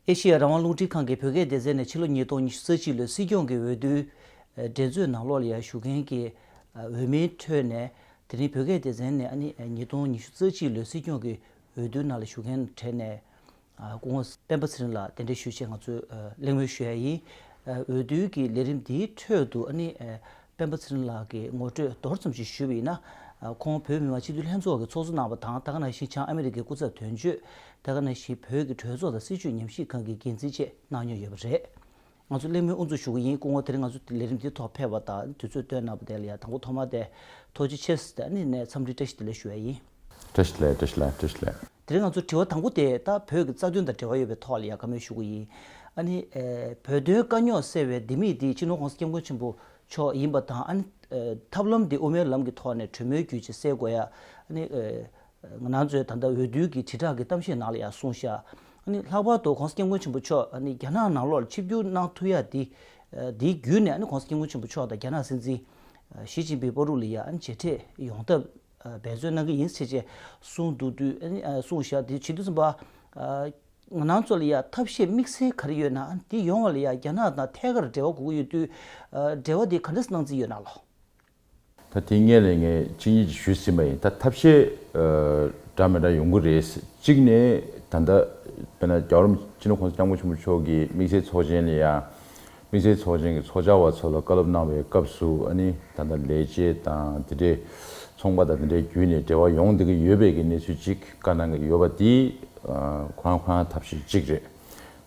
ཨེ་ཤེ་ཡ་རང་དབང་རླུང་འཕྲིན་ཁང་གིས་བོད་སྐད་སྡེ་ཚན་ནས་ཕྱི་ལོ་ཉིས་སྟོང་ཉི་ཤུ་རྩ་གཅིག་ལོའི་སྲིད་སྐྱོང་གི་འོས་བསྡུའི་འགྲན་རྩོད་ནང་ལོ་ལེགས་ཞུ་མཁན་གྱི་འོས་མིའི་ཁྲོད་ནས་དེ་རིང་བོད་སྐད་སྡེ་ཚན་ནས་ཉིས་སྟོང་ཉི་ཤུ་རྩ་གཅིག་ལོའི་སྲིད་སྐྱོང་གི་འོས་བསྡུའི་ནང་ལ་ཞུགས་མཁན་གྲས་ནས་སྐུ་ངོ། སྤེན་པ་ཚེ་རིང་ལགས་གདན་འདྲེན་ཞུ་ཆེད་ང་ཚོས་གླེང་མོལ་ཞུ་ཡ་ཡིན། འོས་བསྡུའི་གི་ལས་རིམ་འདིའི་ཁྲོད་དུ་ཨ་ནི་སྤེན་པ་ཚེ་རིང་ལགས་གི་ངོ་སྤྲོད་མདོར་ཙམ་ཞིག་ཞུ་བ་ཡིན་ན། ཁོང་བོད་མི་མང་སྤྱི་འཐུས་ལྷན་ཚོགས་ཀྱི་ཚོགས་གཙོ་གནང་བ་དང་ཐ་ཀ་ནང་བཞིན་བྱང་ཨ་མེ་རི་ཀའི་སྐུ་ཚབ་དོན་གཅོད། ཐ་ཀ་ནང་བཞིན་བོད་ཀྱི་གྲོས་ཚོགས་དང་སྲིད་བྱུས་ཉམས་ཞིབ་ཁང་གི་འགན་འཛིན་བཅས་གནང་མྱོང་ཡོད་པ་རེད། ང་ཚོ་གླེང་མོལ་དབུ་འཛུགས་ཞུ་གི་ཡིན་སྐུ་ངོ་དེ་རིང་ང་ཚོ་ལས་རིམ་འདིའི་ཐོག་ཕེབས་པ་དང་དུས་ཚོད་སྟོན་གནང་བ་དེ་ལ་ཡང་དང་པོ་ཐོག་མ་དེ་ཐོག་ཅི་ཕྱིར་སི་ཐན་ནས་འཚམས་འདྲི་བཀྲ་ཤིས་བདེ་ལེགས་ཞུ་བ་ཡིན། བཀྲ་ཤིས་བདེ་ལེགས་བཀྲ་ཤིས་བདེ་ལེགས་བཀྲ་ཤིས་བདེ་ལེགས། དེ་རིང་ང་ཚོ་དྲི་བ་དང་པོ་དེ་ད་བོད་ཀྱི་རྩ་དོན་དང་འབྲེལ་བ་ཡོད་པའི་ཐོག་ལ་ཡང་བཀའ་མོལ་ཞུ་གི་ཡིན། ཨ་ནི། བོད་དོན་དཀའ་རྙོག་སེལ་བའི་ལྡེ་མིག་འདི་སྤྱི་ནོར ྋགོང་ས ྋསྐྱབས་མགོན་ཆེན་པོ་མཆོག་ཡིན་པ་དང་ཨ་ནི། ཐབས་ལམ་འདི་དབུ་མའི་ལམ་གྱི་ཐོག་ནས་གྲོས་མོལ་བརྒྱུད་ཅེས་གསལ་གོ་ཡ། ཨ་ནི། ང་ནང་ཚོས་ད་ལྟ་འོས་བསྡུའི་གི་དྲིལ་བསྒྲགས་ཀྱི་གཏམ་བཤད་ནང་ལ་ཡང་གསུངས་ཤག་ཨ་ལྷག་པར་དུ་གོང་ས་སྐྱབས་མགོན་ཆེན་པོ་མཆོག་ཨ་རྒྱ་ནག་ནང་ལོགས་ཆིབས་བསྒྱུར་གནང་ཐུབ་ཡ་དེ་དེའི་བརྒྱུད་ནས་ཨ་གོང་ས་སྐྱབས་མགོན་ཆེན་པོ་མཆོག་དང་རྒྱ་ནག་སྲིད་འཛིན་ཞི་ཅིན་པིའི་པོ་རུ་ལི་ཡ་མཇལ་འཕྲད་ཡོང་ཐབས་འབད་བརྩོན་གནང་གི་ཡིན་ཟེར་ཆེད་གསུངས་འདུག་དུས་གསུངས་ཤག་དེ་བྱེད་དུས་གསུངས་པ་ང་ནང་ཚོ་ལ་ཡང་ཐབས་ཤེས་དམིགས་བསལ་ག་རེ་ཡོད་ན་དེ་ཡོང་བ་ལ་ཡང་རྒྱ་ནག་དང་ཐད་ཀར་འབྲེལ་བ་དགོས་ཀྱི་ཡོད་དུས་འབྲེལ་བ་དེ་ག་འདྲ་སྣང་རྩིས་ཡོད་ནང་ལོགས། ད་དེ་ངས་ལས་ངས་ཅི་ཉིད་ཀྱིས་ཞུས་ཟིན་པ་ཡིན་ད་ཐབས་ཤེས་འདྲ་མི་འདྲ་ཡོང་གི་རེད། གཅིག་ནས་ད་ལྟ་དཔེར་ན་རྒྱ་རོམ་སྤྱི་ལོ་ཁོང་ཚོ་སྐྱབས་མགོན་ཆེན་པོ་མཆོག་གི་དམིགས་བསལ་ཚོགས་ཆེན་ལ་ཡང་དམིགས་བསལ་ཚོགས་ཆེན་གྱི་ཚོགས་བཅར་བ་ཚོ་ལ་བཀའ་སློབ་གནང་བའི་སྐབས་སུ་ཨ་ནི་ད་ལྟ་ལས་བྱེད་དང་དེ་འདྲའི་ཚོང་པ་དང་དེ་འདྲའི་བརྒྱུད་ནས་འབྲེལ་བ་ཡོང་བསྡད་ཀྱི་ཡོད་པའི་གི་གནས་ཚུལ་ཅིག་བཀའ་གནང་གི་ཡོད་པ་དེ་ཁོ་རང་ཁོ་རང་ཐབས་ཤེས་གཅིག་རེད།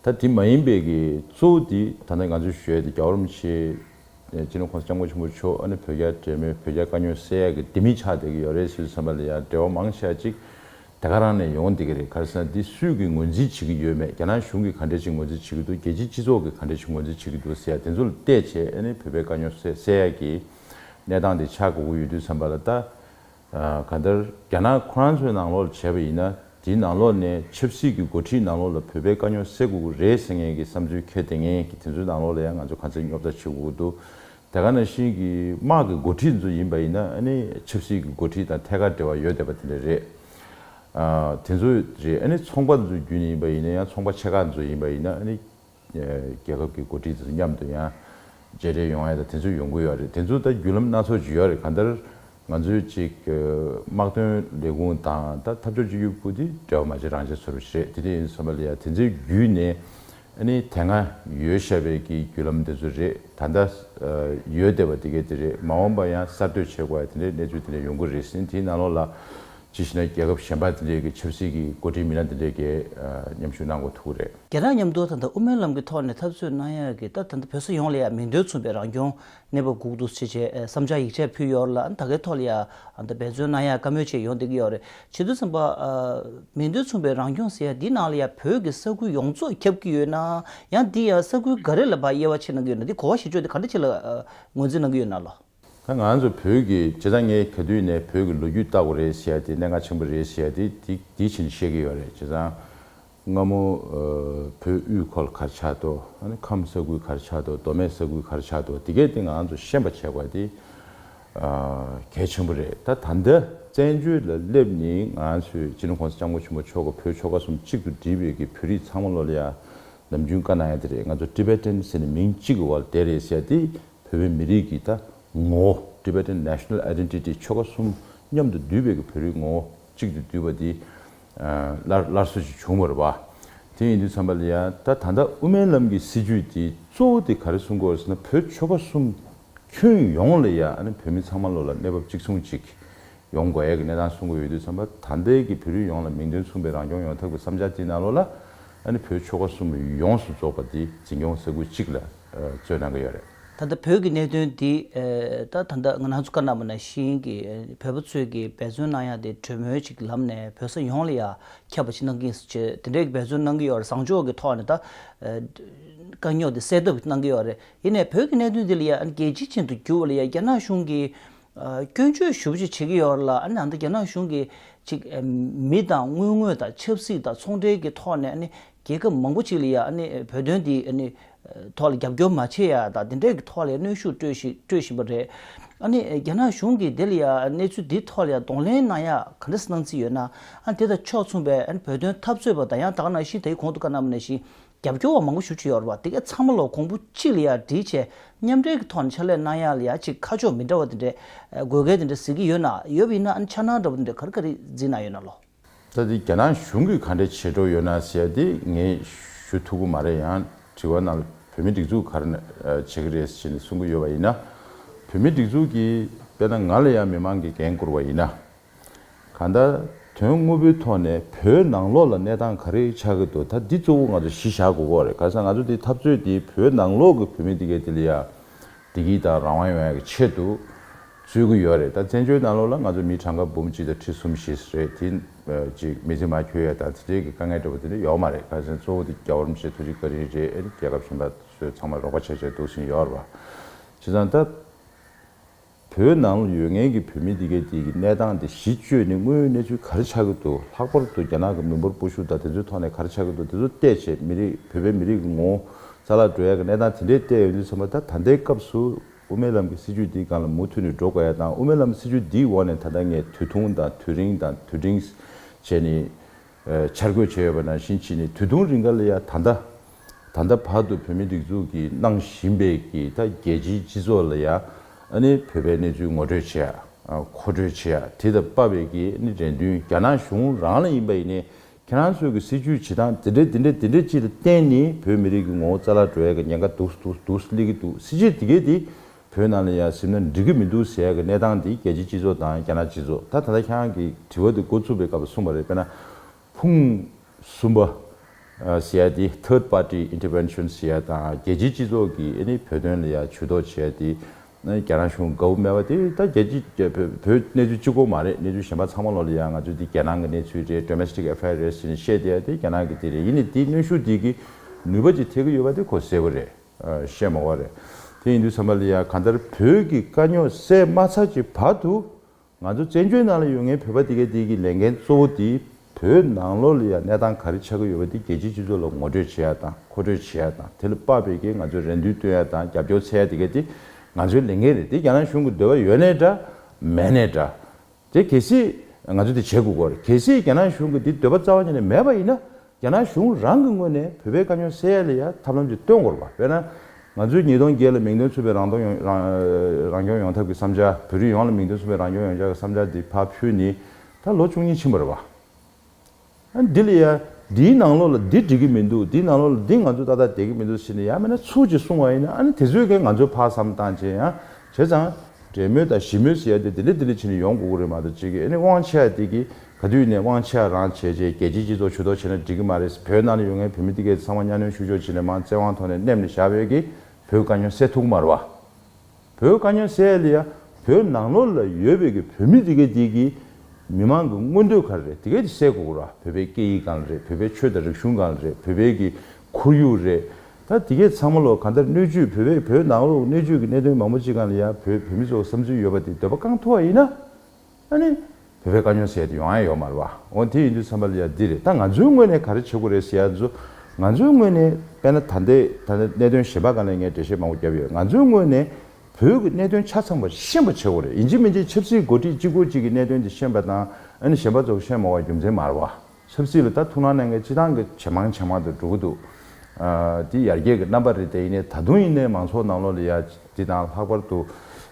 ད་དེ་མ་ཡིན་པའི་གི་གཙོ་བོ་དེ་ད་ནི་ང་ཚོས་ཞོལ་དེ་རྒྱ་རོམ་ཆེ་སྤྱི་ནོར་ཁོང་སྐྱབས་མགོན་ཆེན་པོ་མཆོག་ཨ་ནི་བོད་རྒྱ་འབྲེལ་མོལ་བོད་རྒྱ་དཀའ་རྙོག་སེལ་ཡག་གི་ལྡེ་མིག་ཆགས་བསྡད་ཀྱི་ཡོད་རེད་ཟེར་བསམ་པ་ལ་ཡང་འབྲེལ་བ་མང་ཤས་ཅིག་དེ་ག་རང་ནས་ཡོང་བསྡད་ཀྱི་རེད་ག་རེ་ཟེར་ན་འདི་སུས་ཀྱིས་ངོས་འཛིན་བྱེད་ཀྱི་ཡོད་མེད་རྒྱ་ནག་གཞུང་གིས་ག་འདྲས་ཅིག་ངོས་འཛིན་བྱེད་ཀྱི་འདུག་རྒྱལ་སྤྱིའི་སྤྱི་ཚོགས་ཀྱིས་ག་འདྲས་ཅིག་ངོས་འཛིན་བྱེད་ཀྱི་འདུག་ཟེར་ཡག་དེ་ཚོ་ལ་བལྟས་བྱས་ཨ་ནི་བོད་པའི་དཀའ་རྙོག་སེལ་ཡག་གི་གནས་སྟངས་དེ་ཆགས་དགོས་ཀྱི་ཡོད་དུས་བསམ་པ་ལ་ལྟ། གང་ལྟར་རྒྱ་ནག་ཁོ་རང་ཚོའི་ནང་ལོགས་ལ་བྱས་པ་ཡིན་ན་དེའི་ནང་ལོགས་ནས་ཆབ་སྲིད་ཀྱི་འགོ་ཁྲིད་ནང་ལོགས་ལ་བོད་པའི་དཀའ་རྙོག་སེལ་དགོས་ཀྱི་རེད་ཟེར་མཁན་གྱི་བསམ་ཚུལ་ཁྱོད་དེ་ངེས་ཀྱི་དེ་ཚོའི་ནང་ལོགས་ལ་ཡང་ང་ཚོ་གང་ཚེ་རྙོག་དྲ་བྱེད་དགོས་ཀྱི་འདུག་དེ་ག་ནང་བཞིན་གྱི་དམག་གི་འགོ་ཁྲིད་ཚོ་ཡིན་པ་ཡིན་ན་ཨ་ནི་ཆབ་སྲིད་ཀྱི་འགོ་ཁྲིད་དང་ཐད་ཀར་འབྲེལ་བ་ཡོད་བསྡད་པ་དེ་འདྲ་རེད། དེ་ཚོ་རེད་ཨ་ནི་ཚོང་པ་ཚོ་རྒྱུན་ཡིན་པ་ཡིན་ན་ཡང་ཚོང་པ་ཆེ་ཁག་ཚོ་ཡིན་པ་ཡིན་ན་ཨ་ནི། རྒྱལ་ཁབ་ཀྱི་འགོ་ཁྲིད་དང་མཉམ་དུ་ཡང་མཇལ་འཕྲད་ཡོང་ཡ་དང་དེ་ཚོ་ཡོང་གི་ཡོད་རེད་དེ་ཚོ་ད་བརྒྱུད་ལམ་སྣ་ཚོགས་བརྗོད་ཡ་རེད་གང་ལྟར་ང་ཚོའི་ཅིག་དམག་དོན་ལས་ཁུངས་དང་ད་འཐབ་ཕྱོགས་གཅིག་གྱུར་པུ་དེ་འབྲེལ་བ་མ་བྱེད་རང་བྱེད་ཚོར་བ་ཞིག་རེད་དེ་འདྲ་ཡིན་བསམ་པ་ལ་ཡ་དེ་ཚོའི་བརྒྱུད་ནས་ཨ་ནི་དེ་སྔ་ཡོད་ཤ་བའི་ཀྱི་བརྒྱུད་ལམ་དེ་ཚོ་རེད་ད་ལྟ་ཡོད་བསྡད་པ་དེ་གས་དེ་རེད་མ་འོངས་པ་ཡང་གསར་གཏོད་བྱེད་དགོས་ཡ་དེ་འདྲའི་གནས་ཚུལ་དེ་འདྲ་ཡོང་གི་རེད་སེང་དེའི་ནང་ལོགས་ལ། ཇི་ཞིག་ན་རྒྱལ་ཁབ་གཞན་པ་འདི་འདྲའི་གི་ཆབ་སྲིད་ཀྱི་འགོ་ཁྲིད་མི་སྣ་འདི་འདྲའི་གས་མཉམ་ཞུགས་གནང་དགོས་ཐུག་གི་རེད། རྒྱ་ནག་མཉམ་དུ་ད་ལྟ་དབུ་མའི་ལམ་གི་ཐོག་ནས་འཐབ་རྩོད་གནང་ཡག་གི་ད་ད་ལྟ་བོད་ས་ཡོངས་ལ་ཡག་མིང་དོན་མཚུངས་པའི་རང་སྐྱོང་གནས་བབ་འགུག་འདུག་ཆེ་ཆེ་བསམ་འཆར་ཡིག་ཆ་ཕུལ་ཡོག་ལ་ད་གའི་ཐོག་ལ་ཡག་ད་འབད་བརྩོན་གནང་ཡག་བཀའ་མོལ་བྱས་ཡོང་བསྡད་གི་ཡོག་རེད་བྱེད་དུ་བསམ་པ། མིང་དོན་མཚུངས་པའི་རང་སྐྱོང་ཟེར་ཡག་འདི་ནང་ལ་ཡག་བོད་གི་ས་ཁུལ་ཡོངས་རྫོགས་ཁྱབ་གི་ཡོད་ན་ཡང་འདི་ཡང་ས་ཁུལ་འགའ་རེ་ལ་བ་དབྱེ་བ་ཕྱེ་གནང་གི་ཡོད་ན་འདི་གོ་བ་ཞིག་བཅོས་ཏེ་ག་འདྲ་ཆེ་ལ་ངོས་འཛིན་གནང་གི་ཡོད་ན་ལོ། ད་ང་ཚོ་བོད་ཀྱི་བྱེད་སྟངས་ངས་ག་དུས་ནས་བོད་ཀྱི་ལོ་རྒྱུས་བརྟག་པ་རེད་ཟེར་དེ་གནད་འགག་ཆེན་པོ་རེད་ཟེར་དེ་དེ་དེ་བཞིན་བཤད་ཀྱི་ཡོད་རེད་བྱས་ཙང། སྔ་མོ་བོད་དབུས་ཁོལ་ཁར་ཆགས་ཏོ་ཨ་ནི་ཁམས་ས་ཁུལ་ཁར་ཆགས་ཏོ་མདོ་སྨད་ས་ཁུལ་ཁར་ཆགས་ཏོ་དེ་གས་དེ་ང་ཚོ་ཤེས་པ་བྱས་པ་དེ་གལ་ཆེན་པོ་རེད་ད་ད་འདི་བཙན་བྱོལ་ལ་སླེབས་ནས་ང་ཚོས་སྤྱི་ལོ་གོང་ས་ལྕམ་སྐུ་ཆེན་པོ་མཆོག་གི་བོད་ཆོལ་ཁ་གསུམ་གཅིག་ཏུ་སྒྲིལ་བའི་གི་བོད་རིགས་ཚང་མ་བློ་ལ་ཡ་ནམ་རྒྱུན་བཀའ་གནང་ཡ་དེ་རེད་ང་ཚོ Tibetan ཟེར་ནས་མིང་གཅིག་གི་བར་བསྡད་རེད་ཟེར་དེ་བོད་པའི་མི་རིགས་ཀྱི་ད་ངོ་བོ Tibetan National Identity ཆོལ་ཁ་གསུམ་མཉམ་དུ་འདུས་པའི་བོད་རིགས་ངོ་བོ་གཅིག་ཏུ་འདུས་པ་འདི་སླར་སླར་གསོ་བྱེད་བྱུང་བར་བ། དེ་ཡིན་དུས་ཚང་པ་ལ་ཡང་ད་ད་ལྟ་དབུ་མའི་ལམ་གྱི་སྲིད་བྱུས་དེ་གཙོ་བོ་དེ་ག་རེ་གསུང་དགོས་རེད་ཟེར་ན་བོད་ཆོལ་ཁ་གསུམ་ཁྱོན་ཡོངས་ལ་ཡང་བོད་མི་ཚང་མ་བློ་ལ་གནས་བབ་གཅིག་མཚུངས་གཅིག་ཡོང་དགོས་ཡ་གི་གནས་སྟངས་གསུང་དགོས་ཡོད་དུས་ཚང་པ་ད་ལྟའི་གི་བོད་རིགས་ཡོངས་ལ་མིང་དོན་མཚུངས་པའི་རང་སྐྱོང་ཡོང་ཐབས་ཀྱི་བསམ་འཆར་དེ་ནང་ལོགས་ལ་བོད་ཆོལ་ཁ་གསུམ་ཡོངས་སུ་རྫོགས་པ་དེ་འཛིན་སྐྱོང་ས་ཁུལ་གཅིག་ལ། རྩོད་གནང་གི་ཡོད་རེད། ད་ལྟ་བོད་ཀྱི་གནད་དོན་འདི་དང་ད་ལྟ་ང་རང་ཚོ་ཀ་ན་མ་ན་ཤིང་གི་བོད་པ་ཚོས་ཀྱི་འབད་བརྩོན་གནང་ཡག་དེ་གྲོས་མོལ་ཅིག་ལམ་ནས་བོད་ས་ཡོངས་ལ་ཡ་ཁྱབ་པ་ཅིག་གནང་གིན་ཆེ་དེ་འདྲའི་འབད་བརྩོན་གནང་གི་ཡོད་རེད་བཟང་ཕྱོགས་ཀྱི་ཐོག་ནས་ད་དཀའ་རྙོག་དེ་སེལ་ཐབས་གནང་གི་ཡོད་རེད་ཡིན་ནས་བོད་ཀྱི་གནད་དོན་འདི་ལ་ཡ་རྒྱལ་སྤྱི་ཅན་དུ་འགྱུར་བ་ལ་ཡ་རྒྱ་ནག་གཞུང་གིས་སྐྱོན་བརྗོད་ཞུ་བ་ཅིག་བྱེད་ཀྱི་ཡོད་རེད་ལ་ཨ་ནི་ད་ལྟ་རྒྱ་ནག་གཞུང་གིས་ཅིག་མི་དང་དངུལ་དངོས་དང་ཆབ་སྲིད་དང་ཚོང་འབྲེལ་གྱི་ཐོག་ནས་ཨ་ནི་རྒྱལ་ཁབ་མང་པོ་ཅིག་ལ་ཡང་བོད་དོན་དེ་ཐོག་ལ་རྒྱབ་སྐྱོར་མ་བྱེད་ཡ་དང་དེ་འདྲའི་ཐོག་ལ་ཡང་གནོན་ཤུགས་སྤྲོད་བཞིན་པ་རེད། རྒྱ་ནག་གཞུང་གིས་དེ་ལ་ཡང་གནས་ཚུལ་དེའི་ཐོག་ལ་ཡང་གདོང་ལེན་གནང་ཡ་ག་འདྲ་གནང་རྩིས་ཡོད་ན། དེ་དང་ཕྱོགས་མཚུངས་པའི་བོད་དོན་འཐབ་རྩོད་པ་དང་ཡང་དག་ནང་བཞིན་དེའི་གོང་དུ་བཀའ་གནང་བ་ནས་བཞིན་རྒྱབ་སྐྱོར་བ་མང་པོ་ཞུ་ཆོད་ཡོད་རེད་དེ་ག་ཚང་མ་ལ་གོང་བུ་གཅིག་ལ་ཡང་འདྲིས་ཆེ་མཉམ་འབྲེལ་གྱི་ཐོག་ནས་ཕྱག་ལས་གནང་ཡ་ལ་ཡང་གཅིག་ཁ་ཕྱོགས་མི་འདྲ་བ་དེ་འདྲའི་དགོས་གལ་དེ་འདྲ་གཟིགས་ཀྱི་ཡོད་ན་ཡོད་པ་ཡིན་ན་ཕྱག་ནང་འདྲ་པོ་དེ་འདྲ་ག་རེ་ག་རེ་གཟིགས་གནང་ཡོད་ན་ལོ། ད་དེ་རྒྱ་ནག་གཞུང་གིས་ག་འདྲའི་བྱེད་འགྲོ་ཡོད་ན་ཟེར་ཏེ་ངས་ཞུ་ཐུབ་ཀྱི་མ་རེད་ཡང་དྲི་བ་གནང་ལ་བོད་མི་སྒྲིག་འཛུགས་གར་བྱེད་ཀྱི་རེད་ཟེར་ནས་གསུང་གི་ཡོད་པ་ཡིན་ན། བོད་མི་སྒྲིག་འཛུགས་ཀྱིས་དཔེར་ན་ང་ལ་ཡང་མི་མང་གིས་འགན་བསྐུར་བ་ཡིན་ན། གང་ལྟར་དོན་དངོས་པོའི་ཐོག་ནས་བོད་ནང་ལོགས་ལ་གནས་སྟངས་ག་རེ་ཆགས་ཀྱི་འདུག་ད་འདི་གཙོ་བོ་ང་ཚོ་གཞི་བཞག་དགོས་སྐོར་རེད་ག་ས་ང་ཚོ་འདི་འཐབ་རྩོད་འདི་བོད་ནང་ལོགས་ཀྱི་བོད་མི་འདི་གའི་དེ་ལ་ཡང་བདེ་སྐྱིད་དང་རང་དབང་ཡོང་ཡག་གི་ཆེད་དུ། རྩོད་ཀྱི་ཡོད་རེད་ད་བཙན་བྱོལ་ནང་ལོགས་ལ་ང་ཚོ་མི་གྲངས་ཀ་འབུམ་གཅིག་དང་ཁྲི་གསུམ་བཞི་རེད་དེ། ཅིག་མི་ཚེ་མ་འཁྱོལ་ཡ་དང་དེ་འདྲའི་གི་དཀའ་ངལ་འགྲོ་བ་དེ་འདྲ་ཡོག་མ་རེད་ཁ་སང་གཙོ་བོ་དེ་རྒྱ་བོར་མི་ཆེ་ཐུ་ཅིག་ཀ་རིན་རེད་ཨེ་རེད་རྒྱལ་ཁབ་གཞན་པ་ཚོས་ཚང་མ་རོགས་པ་བྱས་བྱས་འདུག་ཟིན་ཡོག་རེད་བ། བྱས་ཙང་ད། བོད་ནང་ལོགས་ཡོད་ངེས་གི་བོད་མི་དེ་གའི་དེ་གི་གནས་སྟངས་དེ་གཞི་བཅོས་ནས་དངོས་ཡོད་གནས་ཚུལ་ག་རེ་ཆགས་ཀྱི་འདུག་ལྷག་པར་དུ་རྒྱ་ནག་གི་མི་འབོར་སྤོ་ཤུགས་དང་དེ་ཚོའི་ཐོག་ནས་ག་རེ་ཆགས་ཀྱི་འདུག་དེ་ཚོ་བལྟས་བྱས་མི་རིགས་བོད་པའི་མི་རིགས་གི་ངོ་ཙ་ལ་འགྲོ་ཡ་གི་གནས་སྟངས་དེ་འདྲའི་བལྟས་ཡོང་དུས་ཚང་མ་ད་ད་ལྟའི་སྐབས་སུ། དབུ་མའི་ལམ་གྱི་སྲིད་བྱུས་འདིའི་སྒང་ལ་མུ་མཐུད་ནས་འགྲོ་དགོས་ཡ་དང་དབུ་མའི་ལམ་སྲིད་བྱུས་འདིའི་འོག་ནས་ད་ལྟ་ངས་དུས་ཐུང་དང་དུས་རིང་དང་དུས་འབྲིང། བྱས་ནས་འཆར་འགོད་བྱས་ཡོད་པ་ནང་བཞིན་ཕྱིན་ནས་དུས་ཐུང་རིང་འགར་ལ་ཡ་ད་ལྟ། ད་ལྟ་བར་དུ་བོད་མིའི་སྒྲིག་འཛུགས་ཀྱིས་གནང་བཞིན་པའི་གི་ད་རྒྱལ་སྤྱིའི་སྤྱི་ཚོགས་ལ་ཡ་ནི་བོད་པའི་གནས་ཚུལ་ངོ་སྤྲོད་བྱེད་ཡ་མཁོ་སྤྲོད་བྱེད་ཡ་དེ་ད་པ་བའི་གི་ནི་རེ་འདུན་རྒྱ་ནག་གཞུང་རང་ལ་ཡིན་པ་ཡིན་ནས་ཁྱེད་རང་ཚོའི་གི་སྲིད་ཇུས་བྱེད་སྟངས་དེ་འདྲ་དེ་འདྲ་དེ་འདྲ་ཅིག་ལ་བརྟེན་ནས་བོད་མི་རིགས་ཀྱི་ངོ་བོ་རྩ་ལག་འགྲོ་ཡ་གི་ཉེན་ཁ་འདུག་འདུག་འདུག་སླེ་གི་འདུག་སྲིད་ཇུས་དེ་གས་དེ་བོད་ནང་ལ་ཡང་གཟིམ་ན་འགྲིག་གི་མི་འདུག་ཟེར་ཡ་གི་གནས་སྟངས་དེ་རྒྱལ་སྤྱི་སྤྱི་ཚོགས་དང་རྒྱ་ནག་སྤྱི་ཚོགས་ད་ད་ལྟ་ཁྱེད་རང་གི་དྲི་བ་དེ་འགོ་བཙུགས་པའི་སྐབས་ལ་གསུངས་པ་རེད་དཔེར་ན་ཕུང་གསུམ་པ་ཟེར་ཡ་དེ Third Party Interventions ཟེར་ཡ་དང་རྒྱལ་སྤྱི་སྤྱི་ཚོགས་ཀྱིས་ཨེ་ནི་བོད་དོན་ལ་ཡང་ཇུས་གཏོགས་བྱེད་ཡ་དེ་རྒྱ་ནག་གཞུང་ག་བུ་སྨྲས་པ་དེ་ད་རྒྱལ་སྤྱིའི་བོད་གནས་ཚུལ་ཅི་གོ་མ་རེད་གནས་ཚུལ་གཞན་པ་ཚང་མ་ལོག་ལེ་ཡ་ང་ཚོ་འདི་རྒྱལ་ནང་གི་གནས་ཚུལ་རེད Domestic Affair རེད་ཟེར་ནས་བཤད་བསྡད་ཡ་དེ་རྒྱལ་ནང་གི་དེ་རེད་ཡིན་ནས་དེ་གནོན་ཤུགས་དེ་གི་ནུས་པ་ཅིག་ཐེག་གི་ཡོད་པ་དེ་ཁོ་གསལ་པོ་རེད་བཤད་མ་བ་རེད་དེ་ཡིན་དུས་ཚང་མ་ལེ་ཡ་གང་ལྟར་བོད་ཀྱི་དཀའ་རྙོག་སེལ་མ་ཚར་གྱི་བར་དུ་ང་ཚོ་བཙན་བྱོལ་ནང་ལ་ཡོད་ངེས་བོད་པ་དེ་གའི་དེ་གའི་ལས་འགན་གཙོ་བོ་དེ་བོད་ནང་ལོགས་ལ་ཡང་གནས་སྟངས་ག་རེ་ཆགས་ཀྱི་ཡོད་པ་དེ་རྒྱལ་སྤྱིའི་སྤྱི་ཚོགས་ལ་ངོ་སྤྲོད་བྱེད་ཡ་དང་མཁོ་སྤྲོད་བྱེད་ཡ་དང་དེ་ལ་དཔག་པའི་གིས་ང་ཚོས་རེ་འདུན་བཏོན་ཡ་དང་རྒྱབ་སྐྱོར་འཚལ་ཡ་དེ་གའི་དེ་ང་ཚོའི་ལས་འགན་རེད་དེ་རྒྱ་ནག་གཞུང་གི་འདོད་པ་ཡོད་ནའི་འདྲ་མེད་ནའི་འདྲ། དེ་གལ་སྲིད་ང་ཚོས་དེ་བྱེད་དགོས་དགོས་རེད་གལ་སྲིད་རྒྱ་ནག་གཞུང་གི་དེ་འདོད་པ་རྩ་བ་ཉིད་ནས་མེད་པ་ཡིན་ན་རྒྱ་ནག་གཞུང་རང་གི་ངོས་ནས་བོད་པའི་དཀའ་རྙོག་སེལ་ཡ་ལེ་ཡ་ཐབས་ལམ་ཅིག་བཏོན་དགོས་རེད་པ། དཔེར་ན། ང་ཚོས་ཉིས་སྟོང་བརྒྱད་ལ་མིང་དོན་མཚུངས་པའི་རང་སྟོང་ཡོང་རང་སྐྱོང་ཡོང་ཐབས་ཀྱི་བསམ་འཆར་བོད་རིགས་ཡོངས་ལ་མིང་དོན་མཚུངས་པའི་རང་སྐྱོང་ཡོང་འཆར་གྱི་བསམ་འཆར་འདི་ཕབ་ཚུལ་ནི་ད་ལོ་བཅུ་གཉིས་ཕྱིན་པ་རེད་པ། ཨ་འདི་ལེ་ཡ། འདིའི་ནང་ལོགས་ལ་འདི་འགྲིག་གི་མི་འདུག་འདིའི་ནང་ལོགས་ལ་འདི་ང་ཚོ་ཏག་ཏག་དད་ཀྱི་མི་འདུག་ཟེར་ནས་ཡ་མེད་ན་ཚུལ་གྱིས་གསུང་བ་ཡིན་ན་ཨ་ནི་དེ་ཚོའི་གན་ང་ཚོས་ཕར་བསམ་བཏང་བྱས་ཡང་བྱས་ཙང། འབྲེལ་མོལ་དང་ཞི་མོལ་ཟེར་ཡ་དེ་དེ་ལེ་དེ་ལེ་བྱས་ནས་ཡོང་དགོས་གི་རེད་མ་གཏོགས་ཅིག་གིས་ཨ་ནི་དབང་ཆ་དེ་གིས་ག་དུས་ནས་དབང་ཆ་རང་བྱས་རྗེས་རྒྱལ་སྤྱིའི་སྤྱི་ཚོགས་ཇུས་གཏོགས་བྱས་ན་འགྲིག་གི་མ་རེད་བོད་ནང་ལ་ཡོད་མཁན་བོད་མི་འདི་གའི་ཚང་མ་གཉའ་གནོན་ཤུགས་ཕྱོགས་ཅི་ལས་མང་བཙན་དབང་ཐོག་ནས་སྣེམས་ནས་བཞག་ཡོད་ཀི་བོད་དཀའ་སྙོན་སེལ་ཐུག་མར་བ་བོད་དཀའ་སྙོན་སེལ་ཡ་བོད་ནང་ལོག་ལ་ཡོད་བོད་ཀྱི་བོད་མི་འདི་གའི་འདི་གི་མི་མང་གི་མངོན་འདོད་ག་རེ་རེད་དེ་གའི་དེ་སེལ་གོ་ར་བོད་པའི་སྐད་ཡིག་གང་རེད་བོད་པའི་ཆོས་དང་རིག་གཞུང་གང་རེད་བོད་པའི་གི་ཁོར་ཡུག་རེད་ད་དེ་གའི་ཚང་མ་ལོག་ག་འདར་སྣོད་བཅུད་བོད་པའི་བོད་ནང་ལོག་སྣོད་བཅུད་གི་གནད་དོན་མང་པོ་ཅི་གང་ལ་ཡ་བོད་བོད་མི་ཚོ་བསམ་ཚུལ་ཡོད་པ་དེ་འདོད་པ་བསྐང་ཐུག་བ་ཡིན་ན། ཨ་ནི། བོད་པའི་དཀའ་རྙོག་སེལ་དུ་ཡོང་ཨ་ཡ་ཡོག་མ་རེད་བ། འོ་དེ་ཡིན་དུས་འཚམ་པ་ལ་ཡ་འདི་རེད་ད་ང་ཚོའི་ངོས་ནས་ག་རེ་བྱེད་དགོས་རེད་ཟེར་ཡ་མཛོད། ང་ཚོའི་ངོས་ནས་དཔེར་ན་ད་ལྟའི་ད་ལྟའི་གནད་དོན་གཞན་པ་གང་ལས་ངས་འགྲེལ་བཤད་མང་པོ་བརྒྱབ་ཡོད་ང་ཚོའི་ངོས་ནས་བོད་ཀྱི་གནད་དོན་ཆ་ཚང་པ་ཤེས་པ་བྱེད་དགོས་རེད་ཡིན་གཅིག་མིན་གཅིག་ཆབ་སྲིད་འགོ་ཁྲིད་གཅིག་འགོ་གཅིག་གི་གནད་དོན་དེ་ཤེས་པ་དང་ཨ་ནི་གཞན་པ་ཚོ་ཤེས་མ་བ་རྒྱུ་མཚན་མ་རེད་བ། ཆབ་སྲིད་ལ་ད་ཐུག་ན་ནས་ངས་སྤྱི་བཏང་གི་ཇེ་མང་ཇེ་མང་དུ་འགྲོ་གི་འདུག་དེ་ཡར་རྒྱས་ཀྱི་རྣམ་པ་རེད་དེ་ཡིན་ནའི་ད་དུང་ཡིན་ནའི་མང་ཚོགས་ནང་ལོགས་ལ་ཡ་འདི་དང་ལྷག་པར་དུ་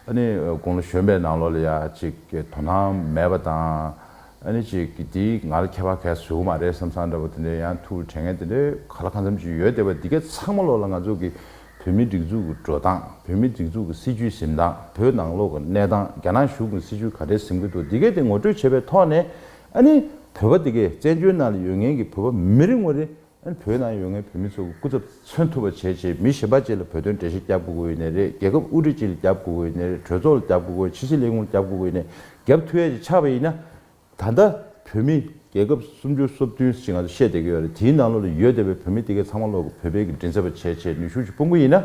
ཨ་ནི་དགུང་ལོ་གཞོན་པའི་ནང་ལོགས་ལ་ཡ་ཅིག་དོ་སྣང་མེད་པ་དང་ཨ་ནི་ཅིག་འདི་ང་ལ་ཁྱད་པར་གས་ཟོས་གི་མ་རེད་བསམ་བསམ་འདྲ་བོ་དེ་འདྲའི་ཡང་ཐུག་ལ་དྲན་ངེས་དེ་འདྲའི་ག་ལ་གང་འཚམ་ཅིག་ཡོད་དེ་བས་འདི་གའི་ཚང་མ་ལོགས་ལ་ང་ཚོ་གི་བོད་མིའི་སྒྲིག་འཛུགས་ཀྱི་འགྲོ་སྟངས་བོད་མིའི་སྒྲིག་འཛུགས་ཀྱི་སྲིད་བྱུས་གཟིམས་སྟངས་བོད་ནང་ལོགས་ཀྱི་གནས་སྟངས་རྒྱ་ནག་གཞུང་གི་སྲིད་བྱུས་ག་འདྲའི་གཟིམས་ཀྱི་འདུག་འདི་གའི་དེ་ངོ་སྤྲོད་བྱེད་པའི་ཐོག་ནས་ཨ་ནི་བོད་པ་དེ་གས་བཙན་བྱོལ་ནང་ལ་ཡོད་མཁན་གྱི་བོད་པ་མི་རེ་ངོ་རེ་ཨ་ནི་བོད་ནང་ཡོད་མཁན་བོད་མི་ཚོ་གི་སྐུ་ཚབ་མཚོན་ཐུབ་པ་བྱེད་ཆེད་མི་ཞེན་པ་བཅས་ལ་བོད་དོན་འགྲེལ་བཤད་རྒྱབ་དགོས་དགོས་ཡོད་ནས་རེད་རྒྱལ་ཁབ་དབུ་ཁྲིད་བཅས་ལ་རྒྱབ་དགོས་དགོས་ཡོད་ནས་རེད་གྲོས་ཚོགས་ལ་རྒྱབ་དགོས་དགོས་ཕྱི་སྲིད་ལས་ཁུངས་ལ་རྒྱབ་དགོས་དགོས་ཡོད་ནས་རྒྱབ་མཐུ་ཡས་ཀྱི་ཆགས་པ་ཡིན་ན། ད་ལྟ་བོད་མི་རྒྱལ་ཁབ་སུམ་ཅུ་སོ་བདུན་ཞིག་ང་ཚོ་བཤད་བསྡད་ཀྱི་ཡོད་རེད་དེའི་ནང་ལོགས་ལ་ཡོད་བསྡད་པའི་བོད་མི་དེ་གས་ཚང་མ་ལོགས་ཀྱི་བོད་པའི་གི་མགྲིན་ཚབ་པ་བྱེད་ཆེད་ནུས་ཤུགས་ཅིག་སྤུངས་ཀྱི་ཡིན་ན།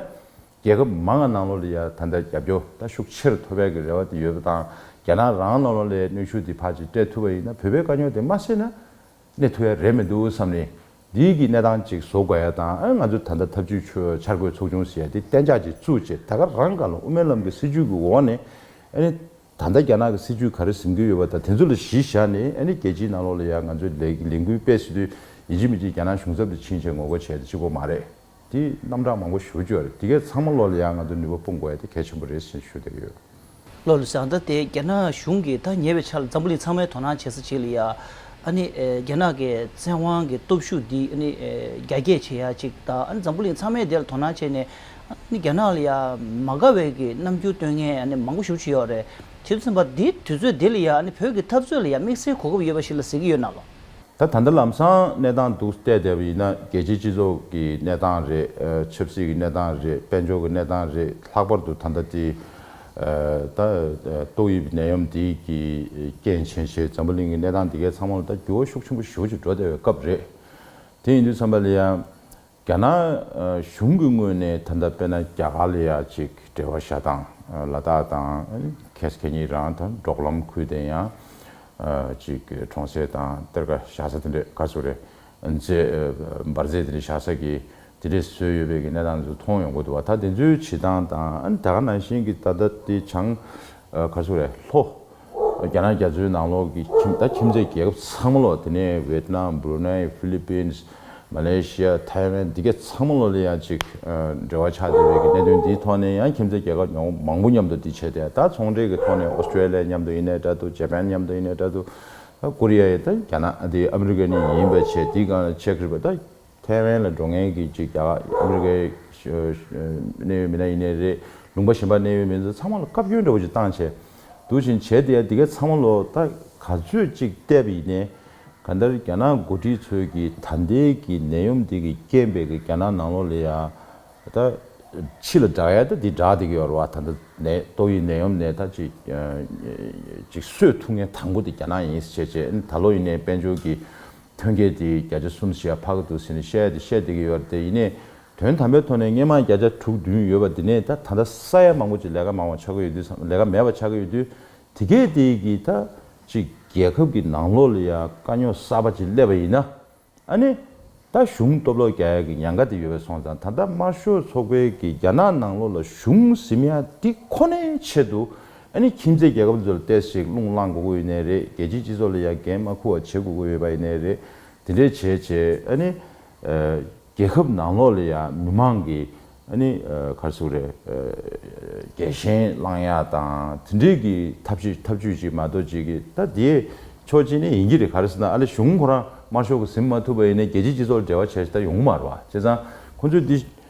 རྒྱལ་ཁབ་མང་ལ་ནང་ལོགས་ལ་ཡང་ད་ལྟ་རྒྱབ་སྐྱོར་ལྟ་ཤུགས་ཆེར་མཐོ་བས་ཀྱི་རེ་བ་དེ་ཡོད་པ་དང་རྒྱ་ནག་རང་ནང་ལོགས་ལའི་གནོད་ཤུགས་དེ་ཕར་ཅིག་སྤྲད་ཐུབ་པ་ཡིན་ན་བོད་པའི་དཀའ་རྙོག་དེ་མ་སེལ་ན་གནས་ཐུབ་ཡ་རེད་མི་འདུག་བསམ་ནས་འདིའི་གི་གནས་སྟངས་ཅིག་བཟོ་དགོས་ཡ་དང་ང་ཚོས་ད་ལྟ་ཐབས་བྱུས་ཆོས་འཆར་འགོད་ཚོགས་ཆུང་ཟེར་ཡ་དེ་གཏན་འཇགས་ཅིག་བཙུགས་རྗེས་ད་ག་རང་ག་ལ་དབུ་མའི་ལམ་གི་སྲིད་བྱུས་གི་འོག་ནས་ཨ་ནི་ད་ལྟ་རྒྱ་ནག་གི་སྲིད་བྱུས་ག་རེ་ཟིན་གྱི་ཡོད་པ་དང་དེ་ཚོ་ལ་གཞི་བཞག་ནས་ཨ་ནི་རྒྱལ་སྤྱིའི་ནང་ལོགས་ལ་ཡང་ང་ཚོས་ལས་འགུལ་སྤེལ་སྲིད་དུས་ཡིན་གཅིག་མིན་གཅིག་རྒྱ་ནག་གཞུང་ཚབ་དུ་ཕྱིན་རྗེས་ངོ་རྒོལ་བྱས་ཏེ་གཅིག་པོ་མ་རེད། དེ་རྣམ་གྲངས་མང་པོ་ཞུ་རྒྱུ་རེད་དེ་གས་ཚང་མ་བློ་ལ་ཡང་ང་ཚོ་ནུས་པ་སྤུངས་དགོས་ཡ་དེ་གལ་ཆེན་པོ་རེད་བཞིན་ཞུ་འདོད་ཡོད། བློ་ལ་བཟང་ད་དེ་རྒྱ་ནག་གཞུང་གིས་ད་ཉེ་བའི་ཆར་འཛམ་བུ་གླིང་ཚང་མའི་དོ་སྣང་བྱེད་ས་བྱེད་ལ་ཡ་ཨ་ནི་རྒྱ་ནག་གི་བཙན་དབང་གི་སྟོབས་ཤུགས་འདི་ཨ་ནི་རྒྱ་སྐྱེད་བྱེད་ཡ་ཅིག་ད་ཨ་ནི་འཛམ་བུ་གླིང་ཚང་མའི་དེ་ལ་དོ་སྣང་བྱེད་ནས་ཨ་ནི་རྒྱ་ནག་ལ་ཡ་མ་དགའ་བའི་གི་རྣམ་འགྱུར་སྟོན་མཁན་ཨ་ནི་མང་པོ་ཞུ་བྱེད་ཡོད་རེད་བྱེད་དུ་སེམས་པ་དེ་དུས་ཚོད་དེ་ལ་ཡ་ཨ་ནི་བོད་ཀྱི་འཐབ་རྩོད་ལ་ཡ་དམིགས་བསལ་གོ་སྐབས་ཡོད་པ་ཞིག་ལ་ཟེར་གྱི་ཡོད་ན་ལ། ད་ད་ལྟ་ལམ་སང་གནས་སྟངས་འདུག་བལྟས་བལྟས་པ་ཡིན་ན་རྒྱལ་སྤྱིའི་སྤྱི་ཚོགས་ཀྱི་གནས་སྟངས་རེད། ཆབ་སྲིད་ཀྱི་གནས་སྟངས་རེད་དཔལ་འབྱོར་གྱི་གནས་སྟངས་རེད་ལྷག་པར་དུ་ད་ལྟ་དེ། ད། ཏོག་དབྱིབས་ནད་ཡམས་འདི་གི་རྐྱེན་བྱས་རྗེས་འཛམ་བུ་གླིང་གི་གནས་སྟངས་འདི་གའི་ཚང་མ་ལ་ད་འགྱུར་བ་ཤུགས་ཆེན་པོ་ཞུགས་ཅིག་འགྲོ་བསྡད་པའི་སྐབས་རེད། དེ་ཡིན་དུས་ཚང་མ་ལ་ཡང། རྒྱ་ནག་གཞུང་གི་ངོས་ནས་ད་ལྟ་དཔེར་ན་རྒྱ་གར་ལ་ཡང་ཅིག་འབྲེལ་བ་བྱ་དང་ལ་དྭགས་དང་ཁེ་སི་ཁེ་གཉིས་རང་དང་འབྲོག་ལམ་ཁུལ་དེ་ཡང་ཅིག་གྲོང་གསེབ་དང་གཏེར་ཁ་བཞག་ས་དེ་འདྲས་ག་ཚོད་རེད་རྫས་འབར་རྫས་དེ་འདྲས་བཞག་ས་གི་དེ་འདྲས་བཟོས་ཡོད་པའི་གི་གནས་སྟངས་དེ་ཚོ་མཐོང་ཡོང་གི་འདུག་བ་ད་དེ་ཚོའི་བྱེད་སྟངས་དང་ད་ག་ནང་བཞིན་གི་ད་ལྟ་དེ་བྱང་ག་ཚོད་རེད་ལྷོ། རྒྱ་ནག་རྒྱ་མཚོའི་ནང་ལོགས་ཀྱི་ཁྱིམ་ད་ཁྱིམ་མཚེས་རྒྱལ་ཁབ་ཚང་མ་ལོགས་དེ་ནས་ཝེད་ནམ་བྷུ་རུ་ནཱི་ཧྥི་ལི་པིན། མ་ལེ་ཤི་ཡ་ཐའི་ཝན་འདི་ག་ཚང་མ་ལོགས་ལས་ཡང་ཅིག་འབྲེལ་བ་ཆགས་བསྡད་རེད་གི་གནད་དོན་འདིའི་ཐོག་ནས་ཡང་ཁྱིམ་མཚེས་རྒྱལ་ཁབ་ཉོང་མང་པོ་མཉམ་དུ་འདི་བྱས་ཏེ་ད་ཚོང་འབྲེལ་གི་ཐོག་ནས་ཨོ་སྟྲེ་ལི་ཡ་མཉམ་དུ་ཡིན་ནའི་དྲ་དུ་ཇེ་པན་མཉམ་དུ་ཡིན་ནའི་དྲ་དུ་ད་ཀོ་རི་ཡ་ཡི་ད་རྒྱ་ནག་འདི་ཨ་མི་རི་ཀ་ནི་ཡིན་པ་བྱས་འདི་གང་ལ་ཆེ་ཁི་རི་པ་ད་ཐའེ་ཝན་ལ་འགྲོ་མཁན་གྱི་གཅིག་རྒྱ་གར་ཨ་མི་རི་ཀའི་གནད་ཡོད་མི་སྣ་ཡིན་ནི་རེད། ལུང་པ་གཞན་པ་གནད་ཡོད་མི་སྣ་ཚང་མ་ལ་བཀའ་བཀྱོན་འདྲ་བོ་ཅིག་བཏང་བྱས་འདུག་བཞིན་བྱས་དེ་ཡང་འདི་ག་ཚང་མ་ལོ་ད་ག་ཚོད་ཅིག་བལྟས་པ་ཡིན་ནའི། གང་ལྟར་རྒྱ་ནག་འགོ་ཁྲིད་ཚོས་ཀྱི་ད་ལྟའི་གི་ནད་ཡོམ་འདི་གི་རྐྱེན་པས་གི་རྒྱ་ནག་ནང་ལོག་ལ་ཡང་ད་ཕྱི་ལ་བསྒྲགས་ཡ་ད་འདི་བསྒྲགས་འདི་གི་ཡོ་ར་བ་ད་ད་ནད་ཏོག་གི་ནད་ཡོམ་ནས་ད་ཅིག་ཅིག་གསོད་ཐུབ་མཁན་དང་པོ་འདི་རྒྱ་ནག་ཡིན་ཟེར་བྱས་བྱས་ད་ལོ་ཡིན་ནའི་དཔལ་འབྱོར་གྱི། ཐོན་སྐྱེད་དེ་བརྒྱ་ཆ་གསུམ་བཞི་ཡར་འཕར་གྱི་འདུག་ཟེར་ནས་བཤད་ཡ་དེ་བཤད་བསྡད་ཀྱི་ཡོད་རེད་དེ་ཡིན་ནའི། དོན་དམ་པའི་ཐོག་ནས་སྣེ་མང་བརྒྱ་ཆ་དྲུག་བདུན་ཡོད་པ་དེ་ནས་ད་ད་ལྟ་ས་ཡ་མང་པོ་ཅིག་ལས་ཀ་མང་བ་ཆགས་ཀྱི་ཡོད་དུས་སམ་ལས་ཀ་མེད་པ་ཆགས་ཀྱི་ཡོད་དུས། དེ་སྐད་དེ་གིས་ད་ཅིག་རྒྱལ་ཁབ་ཀྱི་ནང་ལོགས་ལ་ཡང་དཀའ་རྙོག་གསར་པ་ཅིག་སླེབས་པ་ཡིན་ན། ཨ་ནི། ད་གཞུང་སྟོབས་ལོག་རྒྱ་ཡག་གི་ཉང་ཁ་དེ་ཡོད་པས་སོང་ཙང་ད་ལྟ་དམར་ཤོག་ཚོགས་པའི་གིས་རྒྱ་ནག་ནང་ལོགས་ལ་གཞུང་གཟིམ་ཡ་དེ་ཁོ་ནའི་ཆེད་དུ། ཨ་ནི་ཁྱིམ་མཚེས་རྒྱལ་ཁབ་ཚོར་བལྟས་ཤིག་རླུང་བསླངས་དགོས་དགོས་ཡིན་ནའི་རེད་རྒྱལ་སྤྱིའི་སྤྱི་ཚོགས་ལ་ཡང་འགན་མ་ཁུར་བ་བྱེད་དགོས་དགོས་ཡོད་པ་ཡིན་ནའི་རེད་དེ་འདྲའི་བྱས་བྱས་ཨ་ནི། རྒྱལ་ཁབ་ནང་ལོགས་ལ་ཡང་མི་མང་གིས་ཨ་ནི། གར་སོང་རེད། རྒྱལ་ཞེན་བསླངས་ཡག་དང་དེ་འདྲས་ཀྱི་ཐབས་ཤེས་ཐབས་བྱུས་ཅིག་མ་གཏོགས་ཅིག་གི་ད་དེའི་ཕྱོགས་ཅི་ནས་ཡིན་གྱི་རེད་ག་རེ་ཟེར་ན་ཨ་ལི་གཞུང་ཁོ་རང་དམར་ཤོག་གི་ཟིན་མ་ཐུབ་པ་ཡིན་ནའི་རྒྱལ་སྤྱིའི་སྤྱི་ཚོགས་ལ་འབྲེལ་བ་བྱས་ཤིག་ད་ཡོང་མ་རུང་བ་བྱས་ཙང་ཁོ་ཚོས་འདི་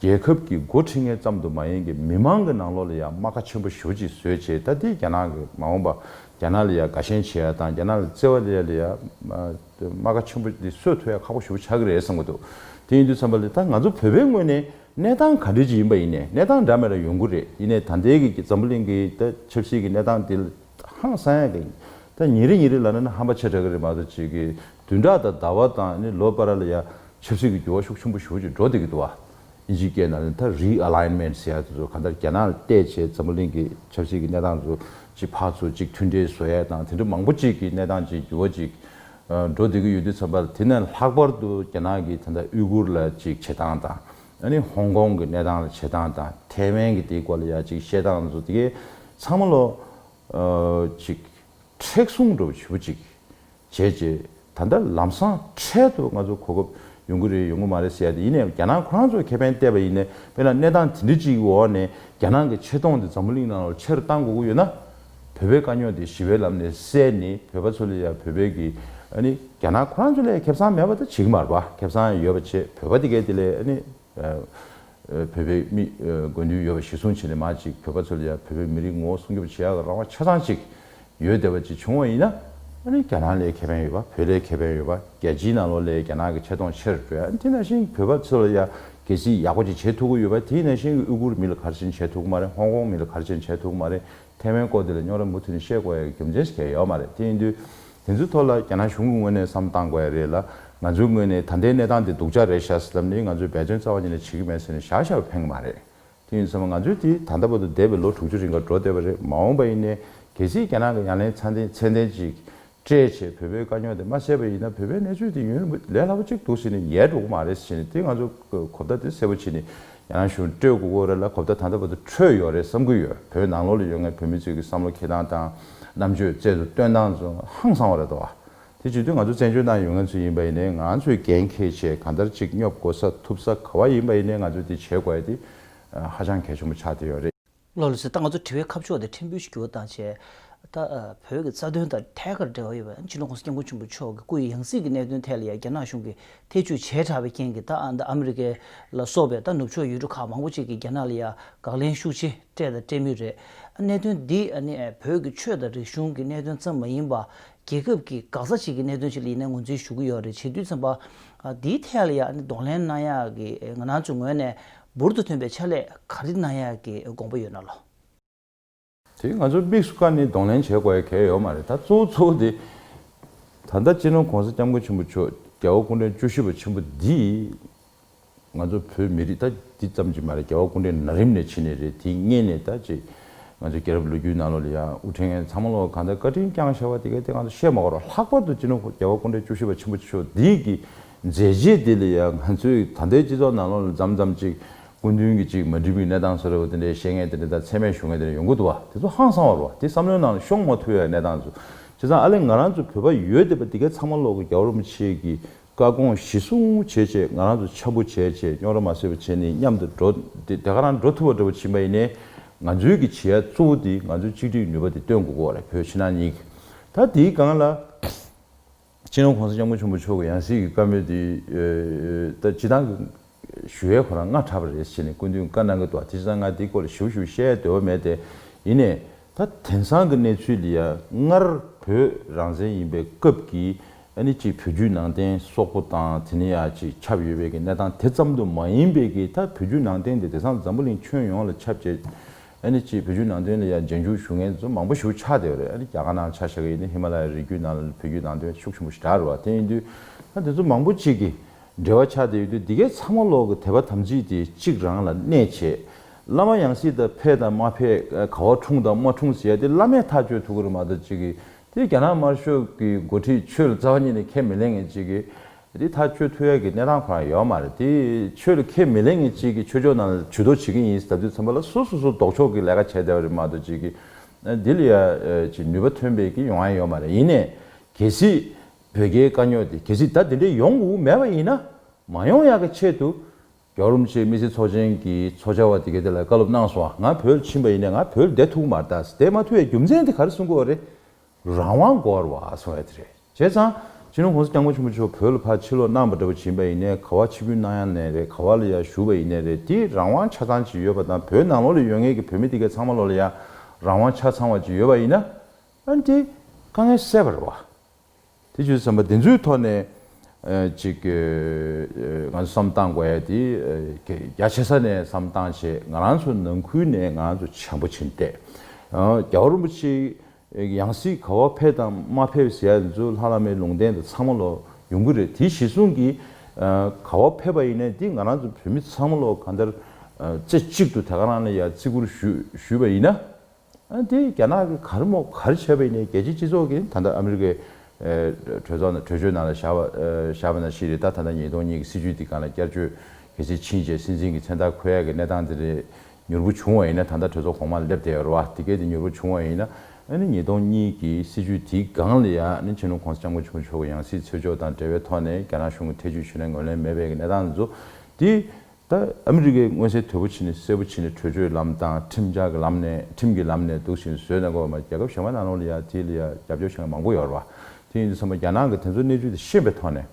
རྒྱལ་ཁབ་ཀྱི་འགོ་ཁྲིད་ངེད་ཙམ་དུ་མ་ཡིན་གྱི་མི་མང་གི་ནང་ལོགས་ལ་ཡང་རྨ་ཁ་ཆེན་པོ་ཞོ་ཅིག་བཟོས་བྱས་ད་ལྟའི་རྒྱ་ནག་གི་མ་འོངས་པ་རྒྱ་ནག་ལ་ཡང་དགའ་ཞེན་བྱེད་ཡ་དང་རྒྱ་ནག་ལ་བརྩེ་བ་ལེ་ཡ་ལེ་ཡ་རྨ་ཁ་ཆེན་པོ་འདི་གསོད་ཐུ་ཡ་ཁག་པོ་ཞུ་ཆགས་ཀྱི་རེད་བསམ་གྱི་འདུག་དེ་ཡིན་དུས་བསམ་པ་ལས་ད་ང་ཚོ་བོད་པའི་ངོས་ནས་གནས་སྟངས་ག་འདྲི་ཅིག་ཡིན་པ་ཡིན་ནས་གནས་སྟངས་འདྲ་མེད་ལ་ཡོང་གི་རེད་ཡིན་ནས་ད་ལྟའི་གི་འཛམ་བུ་གླིང་གི་ད་ཆབ་སྲིད་ཀྱི་གནས་སྟངས་འདི་ལ། ཧང་སངས་ཡག་གི། ད་ཉིན་རེ་ཉིན་རེ་ལ་ན་ནི་ཧམ་པ་ཆེ་དྲག་གི་རེད་མ་གཏོགས་བྱེད་ཀྱི་དུས་འདྲ་ད་ཟླ་བ་དང་ནི་ལོ་པ་ར་ལ་ཡ་ཆབ་སྲིད་ཀྱི་འགྱུར་བ་ཤུགས་ཆེན་པོ་ཞུགས་ཀྱི་འགྲོ་བསྡད་ཀྱི་འདུག་བ། ཨིན་ཇིའི་སྐད་ནང་ནི་ད Realignment ཟེར་ཡག་དེ་ཚོ་གང་ལྟར་རྒྱ་ནག་ལ་བལྟས་བྱས་འཛམ་བུ་གླིང་གི་ཆབ་སྲིད་ཀྱི་གནས་སྟངས་ཚོ་གཅིག་འཕགས་ཚོ་གཅིག་མཐུན་འབྲེལ་བཟོ་ཡག་དང་དེ་འདྲ་མང་པོ་གཅིག་གི་གནས་སྟངས་གཅིག་འགྱུར་བ་གཅིག་འགྲོ་བསྡད་ཀྱི་ཡོད་དུས་ཚང་པ་དེ་ནས་ལྷག་པར་དུ་རྒྱ་ནག་གི་ད་ལྟ་དབུས་གུར་ལ་གཅིག་བྱེད་སྟངས་དང། ཡང་ནི་ཧོང་ཀོང་གི་གནས་སྟངས་ལ་བྱེད་སྟངས་དང་ཐའེ་ཝན་གྱི་དེའི་སྐོར་ལ་ཡང་ཅིག་བཤད་སྟངས་སུ་དེ་གའི་ཚང་མ་ལོ། ཅིག། མཁྲེགས་བཟུང་འགྲོ་བ་བྱེད་པོ་ཅིག་བྱེད་ཅེས་ད་ལྟ་ལམ་སང་འཕྲལ་དུ་ང་ཚོ་གོ་སྐབས་ཡོང་གི་རེད་ཡོང་གི་མ་རེད་ཟེར་ཡ་དེ་ཡིན་ནའི་རྒྱ་ནག་ཁོ་རང་ཚོས་ཁེ་ཕན་བལྟས་པ་ཡིན་ནའི་དཔེར་ན་གནས་སྟངས་དེ་འདྲི་ཅིག་གི་འོག་ནས་རྒྱ་ནག་གི་ཆེ་མཐོང་དེ་འཛམ་བུ་གླིང་ནང་ལོ་ཆེ་རུ་གཏང་དགོས་ཀྱི་ཡོད་ན་བོད་པའི་དཀའ་རྙོག་དེ་ཞི་བའི་ལམ་ནས་སེལ་ནི་བོད་པ་ཚོ་ལ་ཡང་བོད་པའི་གི་ཨ་ནི་རྒྱ་ནག་ཁོ་རང་ཚོ་ལས་ཁེབས་ཚང་མེད་པ་དང་བྱིག་མར་པ་ཁེབས་ཚང་ཡང་ཡོད་པ་ཆེ་བོད་པ་དེ་གའི་དེ་ལས་ཨ་ནི་བོད་པའི་མི་དགོས་འདུན་ཡོད་པ་གཞི་བཟུང་བྱེད་ནི་མ་ཅིག་བོད་པ་ཚོ་ལ་ཡང་བོད་པའི་མི་རིགས་ངོ་བོ་སྲུང་སྐྱོབ་བྱེད་ཡག་གི་རང་དབང་ཆ་ཚང་ཅིག་ཡོད་བདེ་བ་ཅིག་བྱུང་བ་ཡིན་ན་ཨ་ནི་རྒྱ་ནག་ལས་ཁེ་ཕན་ཡོད་པ་བོད་ལས་ཁེ་ཕན་ཡོད་པ་རྒྱལ་སྤྱིའི་ནང་ལོག་ལས་རྒྱ་ནག་གི་ཆེ་མཐོང་ཆེར་འགྲོ་ཡ་ཨ་ནི་དེ་ནང་བཞིན་བོད་པ་ཚོ་ལ་ཡང་གལ་སྲིད་ཡག་པོ་ཅིག་བྱེད་ཐུབ་གི་ཡོད་པ་དེ་ནང་བཞིན་གི་དབུས་གུར་མི་ལ་གར་ཆེན་བྱེད་ཐུབ་གི་མ་རེད་ཧོང་ཀོང་མི་ལ་གར་ཆེན་བྱེད་ཐུབ་གི་མ་རེད་ཐའེ་ཝན་སྐོར་དེ་ལ་རྙོག་ར་མུ་མཐུད་ནས་བཤད་དགོས་ཡ་གི་རྒྱུ་མཚན་ཞིག་ཁྱེར་ཡོད་མ་རེད་དེ་ཡིན་དུས། དེ་ཚོའི་ཐོག་ལ་རྒྱ་ནག་གཞུང་གི་ངོས་ནས་བསམ་བཏང་དགོས་ཡ་རེད་ལ། ང་ཚོའི་ངོས་ནས་ད་ལྟའི་གནས་སྟངས་དེ་སྡུག་ཅག་རེད་བཞག་ཟེར་ལབ་ནས་ང་ཚོས་འབད་བརྩོན་རྩ་བ་ཉིད་ནས་བྱེད་ཀྱི་མེད་ཟེར་ནས་བཞག་བཞག་ཕན་གི་མ་རེད། དེ་ཡིན་ཚོད་མ་ང་ཚོས་དེ་ད་ལྟ་བར་དུ་འདས་པའི་ལོ་དྲུག་ཅུ་རིང་གར་འགྲོ་བསྡད་པ་རེད་མ་འོངས་པ་ཡིན་ནའི་གལ་སྲིད་རྒྱ་ནག་གི་ཡང་ལན་ཚ་མཚན་ལྡན་ཅིག་སྤྲད་ཆེད་བོད་པའི་དཀའ་རྙོག་དེ་མ་བཤད་པ་ཡིན་ན་བོད་པའི་གནས་ཚུལ་དེ་ཡུན་རིང་ལས་སླ་པོ་ཅིག་འདུག་ཟེར་ནས་ཡལ་འགྲོ་གི་མ་རེད་ཟེར་ནས་དེ་ང་ཚོ་གོ་བརྡ་དེ་གསལ་པོ་བྱེད་ནས་ཡང་ཡང་ཞུ་སྤྲོད་དགོས་དགོས་རེད་ལ་གོ་བརྡ་ད་ལྟ་བར་དུ་འཕྲོད་ཡོད་རེད་བསམ་གི་ཡོད་བོད་ནང་ལོག་ལ་ཡོད་ངའི་བོད་མི་ཚོས་ཀྱི་བསམ་བློ་འཁྱེར་སྟངས་དང་རྣམ་དཔྱོད་རྩལ་དུ་སྟོན་སྟངས་ཚོ་ཧང་བསང་བ་རེད་དོ། དེ་བྱེད་དུས་ང་ཚོ་བཙན་བྱོལ་ནང་ཡོད་ངེས་ཚོ་ཡིན་པ་ཡིན་ནའི་ང་ཚོས་འགན་ཁེ་ཆེད་གང་ལྟར་ཅིག་སྙོབ་དགོས་ས་ཐུབ་ས་ག་བ་ཡིན་པ་ཡིན་ནའི་ང་ཚོས་དེ་བྱེད་དགོས་ཡ་དེ་ཧ་ཅང་གལ་ཆེན་པོ་ཆགས་བསྡད་ཡོད་རེད། བློ་ལ་ཟེར་ད་ང་ཚོ་དྲི་བའི་ཁ་ཕྱོགས་དེ་ཕྲན་བུ་ཞིག་བསྒྱུར་དང་བྱས། ད་བོད་ཀྱི་རྩ་དོན་དང་ཐད་ཀར་འབྲེལ་བ་ཡོད་པའི་ཨན་ཆི་ལོ་ཀོང་ས་སྐྱབས་མགོན་ཆེན་པོ་མཆོག་གི་སྐུ་ཡི་ཡང་སྲིད་ཀྱི་གནད་དོན་ཐད་ལ་ཡང་རྒྱ་ནག་གཞུང་གིས་ཐེ་བྱུས་བྱས་དྲགས་པའི་རྐྱེན་གྱིས་ད་ཨ་མི་རི་ཀ་ལ་སོགས་པའི་ད་ནུབ་ཕྱོགས་ཡུལ་གྲུ་ཁག་མང་པོ་ཅིག་གིས་རྒྱ་ནག་ལ་ཡང་དགག་ལན་ཤུགས་ཆེ་སྤྲད་དང་སྤྲད་མུས་རེད། གནད་དོན་འདི་ནི་བོད་ཀྱི་ཆོས་དང་རིག་གཞུང་གི་གནད་དོན་ཙམ་མ་ཡིན་པར་རྒྱལ་ཁབ་ཀྱི་འགག་རྩ་ཆེ་གི་གནད་དོན་ཞིག་ལ་ཡིན་ནའི་ངོས་འཛིན་ཞུ་གི་ཡོད་རེད་བྱས་དུས་ཚན་པ་འདིའི་ཐད་ལ་ཡང་གདོང་ལེན་གནང་ཡག་གི་ང་རང་ཚོའི་ངོས་ནས་འབུར་དུ་ཐོན་པའི་ཆ་ལས་གར་ཏི་ན་ཡ་གི་དགོངས་པ་ཡོད་ན་ལོ། དེ་ང་ཚོ་དམིགས་སུ་བཀར་ནས་གདོང་ལེན་བྱེད་དགོས་ཡ་གལ་ཡོད་མ་རེད་ད་གཙོ་བོ་གཙོ་བོ་དེ། ད་ལྟ་སྤྱི་ནོར་གོང་ས་སྐྱབས་མགོན་ཆེན་པོ་མཆོག་རྒྱལ་བ་སྐུ་ཕྲེང་བཅུ་བཞི་པ་ཆེན་པོ་འདིས། ང་ཚོ་བོད་མི་རིགས་ད་འདི་ཙམ་གྱིས་མ་རེད་རྒྱལ་བ་སྐུ་ཕྲེང་ན་རིམ་ནས་ཕྱིན་ནས་རེད་དེ་བརྙེད་ནས་ད་ཅིག། ང་ཚོ་རྒྱལ་རབས་ལོ་རྒྱུས་ནང་ལོག་ལ་ཡང་དབུ་ཕྲེང་ངན་ཚང་མ་ལོག་གང་ལྟར་བཀའ་དྲིན་བསྐྱངས་བྱ་བ་དེ་གལ་ཏེ་ང་ཚོ་བཤད་མ་དགོས་རོགས་ལྷག་པར་དུ་སྤྱི་ནོར་རྒྱལ་བ་སྐུ་ཕྲེང་བཅུ་བཞི་པ་ཆེན་པོ་མཆོག་འདིས་ཀྱིས་མཛད་རྗེས་དེ་ལས་ཡང་ང་ཚོས་ད་ལྟའི་སྤྱི་ཚོགས་ནང་ལོགས་ལ་འཇམ་འཇམ་ཅིག་སྐུ་མདུན་གྱི་ཅིག་མ་འགྲིག་པའི་གནས་སྟངས་ཟེར་བ་དེ་འདྲའི་བཤད་ངན་དེ་འདྲ་དང་ཚད་མའི་ཞུ་ངན་དེ་འདྲ་ཡོང་གི་འདུག་བ་དེ་ཚོ་ཧང་སང་བར་བ་དེ་བསམ་བློའི་ནང་ལ་ཤོང་མ་ཐུབ་ཡ་གནས་སྟངས་ཚོ་བྱས་ཙང་ཨ་ལེ་ང་རང་ཚོ་བོད་པ་ཡོད་དེ་བ་དེ་གའི་ཚང་མ་ལོག་གི་རྒྱ་བོར་མ་བྱེད་ཀྱི་བཀའ་དགོངས་གཞི་བཟུང་བྱེད་བྱེད་ང་རང་ཚོ་ཆ་བུ་བྱེད་བྱེད་རྙོག་ར་མ་བཟོས་བ་བྱེད་ནས་མཉམ་དུ་འགྲོ་དེ་ག་རང་འགྲོ་ཐུབ་བ་འགྲོ་བ་ཕྱིན་པ་ཡིན་ནས་ང་ཚོའི་གི་བྱེད་ཡ་གཙོ་བོ་དེ་ང་ཚོའི་གཅིག་སྒྲིག་ནུས་པ་དེ་སྟོན་དགོས་གོ་རེད་བོད་ཕྱི་ནང་གཉིས་ཀྱི་ད་དེའི་སྒང་ལ། སྤྱི་ནོར ྋགོང་ས ྋསྐྱབས་མགོན་ཆེན་པོ་མཆོག་གི་ཡང་སྲིད་ཀྱི་བཀའ་མོལ་དེ། སྤྱི་བཏང་གི་ཞུ་བའི་ཁོ་རང་སྔ་དྲགས་པ་རེད་ཟེར་ནས་སྐུ་མདུན་བཀའ་གནང་གི་འདུག་དེ་ཕྱིན་སང་ང་དེའི་སྐོར་ལ་ཞུ་ཞུ་བཤད་ཡ་འདོད་པ་མེད་དེ། ཡིན་ནས། ད་དེང་སང་གི་གནས་ཚུལ་ལ་ཡ་སྔར་བོད་རང་བཙན་ཡིན་པའི་སྐབས་ཀྱི་ཨ་ནི་གཅིག་བོད་བརྒྱུད་ནང་བསྟན་སོག་པོ་དང་དེ་ནས་ཡ་གཅིག་ཁྱབ་ཡོད་པའི་གི་གནས་སྟངས་དེ་ཙམ་དུ་མ་ཡིན་པའི་གི་ད་བོད་བརྒྱུད་ནང་བསྟན་དེ་དེང་སང་འཛམ་བུ་གླིང་ཁྱོན་ཡོངས་ལ་ཁྱབ་བྱས་ཨ་ནི་ཅི་བོད་བརྒྱུད་ནང་དོན་ལ་ཡང་རྗེས་འཇུག་ཞུ་ངན་ཟོ་མང་པོ་ཞུ་ཆགས་བསྡད་རེད་ཨ་ནི་རྒྱ་གར་ནང་ཆ་ཞག་ཡིན་ནི་ཧི་མ་ལ་ཡའི་རི་རྒྱུད་ནང་ལ་བོད་བརྒྱུད་ནང་དོན་ཤུགས་ཆེན་པོ་ཞིག་དྲག་རེད་བ་དེ་ཡིན་དུས་ན་དེ་ཚོ་མང་པོ་ཅིག་གི་འབྲེལ་བ་ཆགས་བསྡད་ཡོད་དུས་འདི་གའི་ཚང་མ་ལོག་གི་དད་པ་དམ་ཚིག་དེ་གཅིག་རང་ལ་གནས་བྱས། བླ་མ་ཡང་སྲིད་དང་ཕེ་དང་མ་ཕེ་ག་བ་འཁྲུངས་དང་མ་འཁྲུངས་ཟེར་ཡ་དེ་བླ་མས་ཐག་གཅོད་ཐུབ་གི་རེད་མ་གཏོགས་ཅིག་གི་དེ་རྒྱ་ནག་དམར་ཤོག་གི་འགོ་ཁྲིད་ཆོས་ལ་རྩ་བ་ཉིད་ནས་ཁས་མི་ལེན་ངེས་ཅིག་གི། འདི་ཐག་གཅོད་ཐུབ་ཡག་གི་གནས་སྟངས་གང་ཡོད་མ་རེད་དེ། ཆོས་ལ་ཁས་མི་ལེན་མཁན་གཅིག་གིས་ཆོས་ཕྱོགས་ནང་ལ་བྱུས་གཏོགས་བྱེད་ཀྱི་ཡིན་ཟེར་ད་དུས་ཚང་པ་ལ་སོ་སོ་སོ་ལྡོག་ཕྱོགས་ཀྱི་ལས་ཀ་བྱས་བསྡད་པ་རེད་མ་གཏོགས་གཅིག་གིས་འདི་ལ་ཡ་ཅིག་ནུས་པ་ཐོན་པའི་གི་ཡོང་ཡ་ཡོད་མ་རེད་ཡིན་ནས་གལ་སྲིད་བོད་རྒྱའི་དཀའ་རྙོག་དེ་གལ་སྲིད་ད་དེ་འདྲའི་ཡོང་དགོས་མེད་པ་ཡིན་ན་མ་ཡོང་ཡག་གི་ཆེད་དུ་རྒྱ་རོམ་ཆེ་མི་སེར་ཚོགས་ཆེན་གྱི་ཚོགས་བཅར་བ་དེ་གའི་དེ་ལ་བཀའ་སློབ་གནང་སོང་ང་བོད་ལ་ཕྱིན་པ་ཡིན་ནས་ང་བོད་ལ་བསྡད་ཐུག་མ་རེད་ད་ཟེར་དེ་མ་ཐུག་ཡ་རྒྱུ་མཚན་དེ་ག་རེ་གསུང་དགོས་རེད་རང་དབང་སྒོར་བ་སོང་ཡོད་རེད། བྱས་ཙང། ཕྱི་ལོ་གོང་ས་སྐྱབས་མགོན་ཆེན་པོ་མཆོག་བོད་ལ་ཕར་ཕྱིར་ལོག་གནང་བ་འདྲ་བོ་བྱིན་པ་ཡིན་ནའི་ག་བ་ཕྱི་ཕུལ་གནང་ཡ་ནས་རེད་ག་བ་ལ་ཡ་བཞུགས་པ་ཡིན་ནའི་རེད་དེ་རང་དབང་ཆ་ཚང་ཅིག་ཡོད་པ་དང་བོད་ནང་ལོག་ལས་ཡོད་ངེས་ཀྱི་བོད་མི་དེ་གའི་ཚང་མ་ལོག་ལ་ཡ་རང་དབང་ཆ་ཚང་བ་ཅིག་ཡོད་པ་ཡིན་ན། ཨ་འདི། དཀའ་ངལ་སེལ་བ་རེད་བ། དེ་བཞིན་བསམ་པ་དེ་ཚོའི་ཐོག་ནས་ཅིག་ང་ཚོ་བསམ་སྟངས་དགོས་ཡ་དེ་རྒྱ་ཆེ་ས་ནས་བསམ་སྟངས་བྱེད་ང་རང་ཚོ་ནང་ཁུལ་ནས་ང་རང་ཚོ་བྱམས་པོ་བྱེད་བལྟས། རྒྱ་བོ་རིན་པོ་ཆེ་ཡང་སྲིད་ག་བ་ཕེབས་དང་མ་ཕེབས་ཟེར་ཡ་དེ་ཚོ་ལྷ་བླ་མའི་ལུང་བསྟན་དང་ཚང་མ་ལོ་ཡོང་གི་རེད་དེ་གཞི་བཟུང་གི་ག་བ་ཕེབས་པ་ཡིན་ན་དེ་ང་རང་ཚོ་བོད་མི་ཚང་མ་ལོ་ག་འདར་རྩེ་གཅིག་ཏུ་དེ་ག་རང་ལ་ཡ་བརྩི་བཀུར་ཞུས་པ་ཡིན་ན་དེ་རྒྱ་ནག་གི་གར་མོ་གར་བྱས་པའི་ནི་རྒྱལ་སྤྱིའི་སྤྱི་ཚོགས་ཀྱིས་ད་ལྟ་ཨ་མི་རི་ཀའི་གྲོས་ཚོགས་ནང་གྲོས་ཆོད་ནང་ལ་བཞག་བཞག་པ་ན་ཤི་རི་ཏཱ་ད་ལྟ་ཉིས་སྟོང་གཉིས་ཀྱི་སྲིད་བྱུས་འདི་ག་ལ་བསྐྱར་བཅོས་གལ་ཆེར་ཕྱིན་རྗེས་སྲིད་འཛིན་གྱི་མཚན་རྟགས་ཁོ་ཡག་གི་གནས་སྟངས་དེ་རེད། མྱུར་པོ་བྱུང་བ་ཡིན་ན་ད་ལྟ་གྲོས་ཚོགས་གོང་མ་ལ་སླེབས་བསྡད་ཡོད་རེད་བ། དེ་སྐད་དེ་མྱུར་པོ་བྱུང་བ་ཡིན་ན་ཨ་ནི་ཉིས་སྟོང་གཉིས་ཀྱི་སྲིད་བྱུས་དེའི་སྒང་ལ་ཡང་ནི་ཆེ་ནུ་ཁོང་ས་སྐྱབས་མགོན་ཆུང་མཆོག་གི་ཡང་སྲིད་འཚོལ་ཕྱོགས་དང་འབྲེལ་བའི་ཐོག་ནས་རྒྱ་ནག་གཞུང་གི་ཐེ་བྱུས་ཆུ་ལེན་ངོས་ལེན་མེད་པའི་གནས་སྟངས་འཛུགས་དེ་ད་ཨ་མི་རི་ཀས་མངོན་གསལ་དོད་པོ་ཕྱིན་ནས་གསལ་པོ་ཕྱིན་ནས་བྲོས་བྱོལ་ལམ་དང་ཁྲིམས་འཆར་གྱི་ལམ་ནས་ཁྲིམས་ཀྱི་ལམ་ནས་འདུག་ཤིང་བཟོས་ནས་གོ་བ་མ་རྒྱལ་ཁབ་གཞན་པ་ནང་ལོག་ལ་ཡ་དེ་ལ་ཡ་རྒྱབ་སྐྱོར་བྱེད་མཁན་མང་པོ་ཡོད་རེད་པ་དེ་ཡིན་དུས་ཚང་མ་རྒྱ་ནག་གི་དེ་ཚོ་གནས་ཚུལ་དེ་ཤེས་པའི་ཐོག་ནས་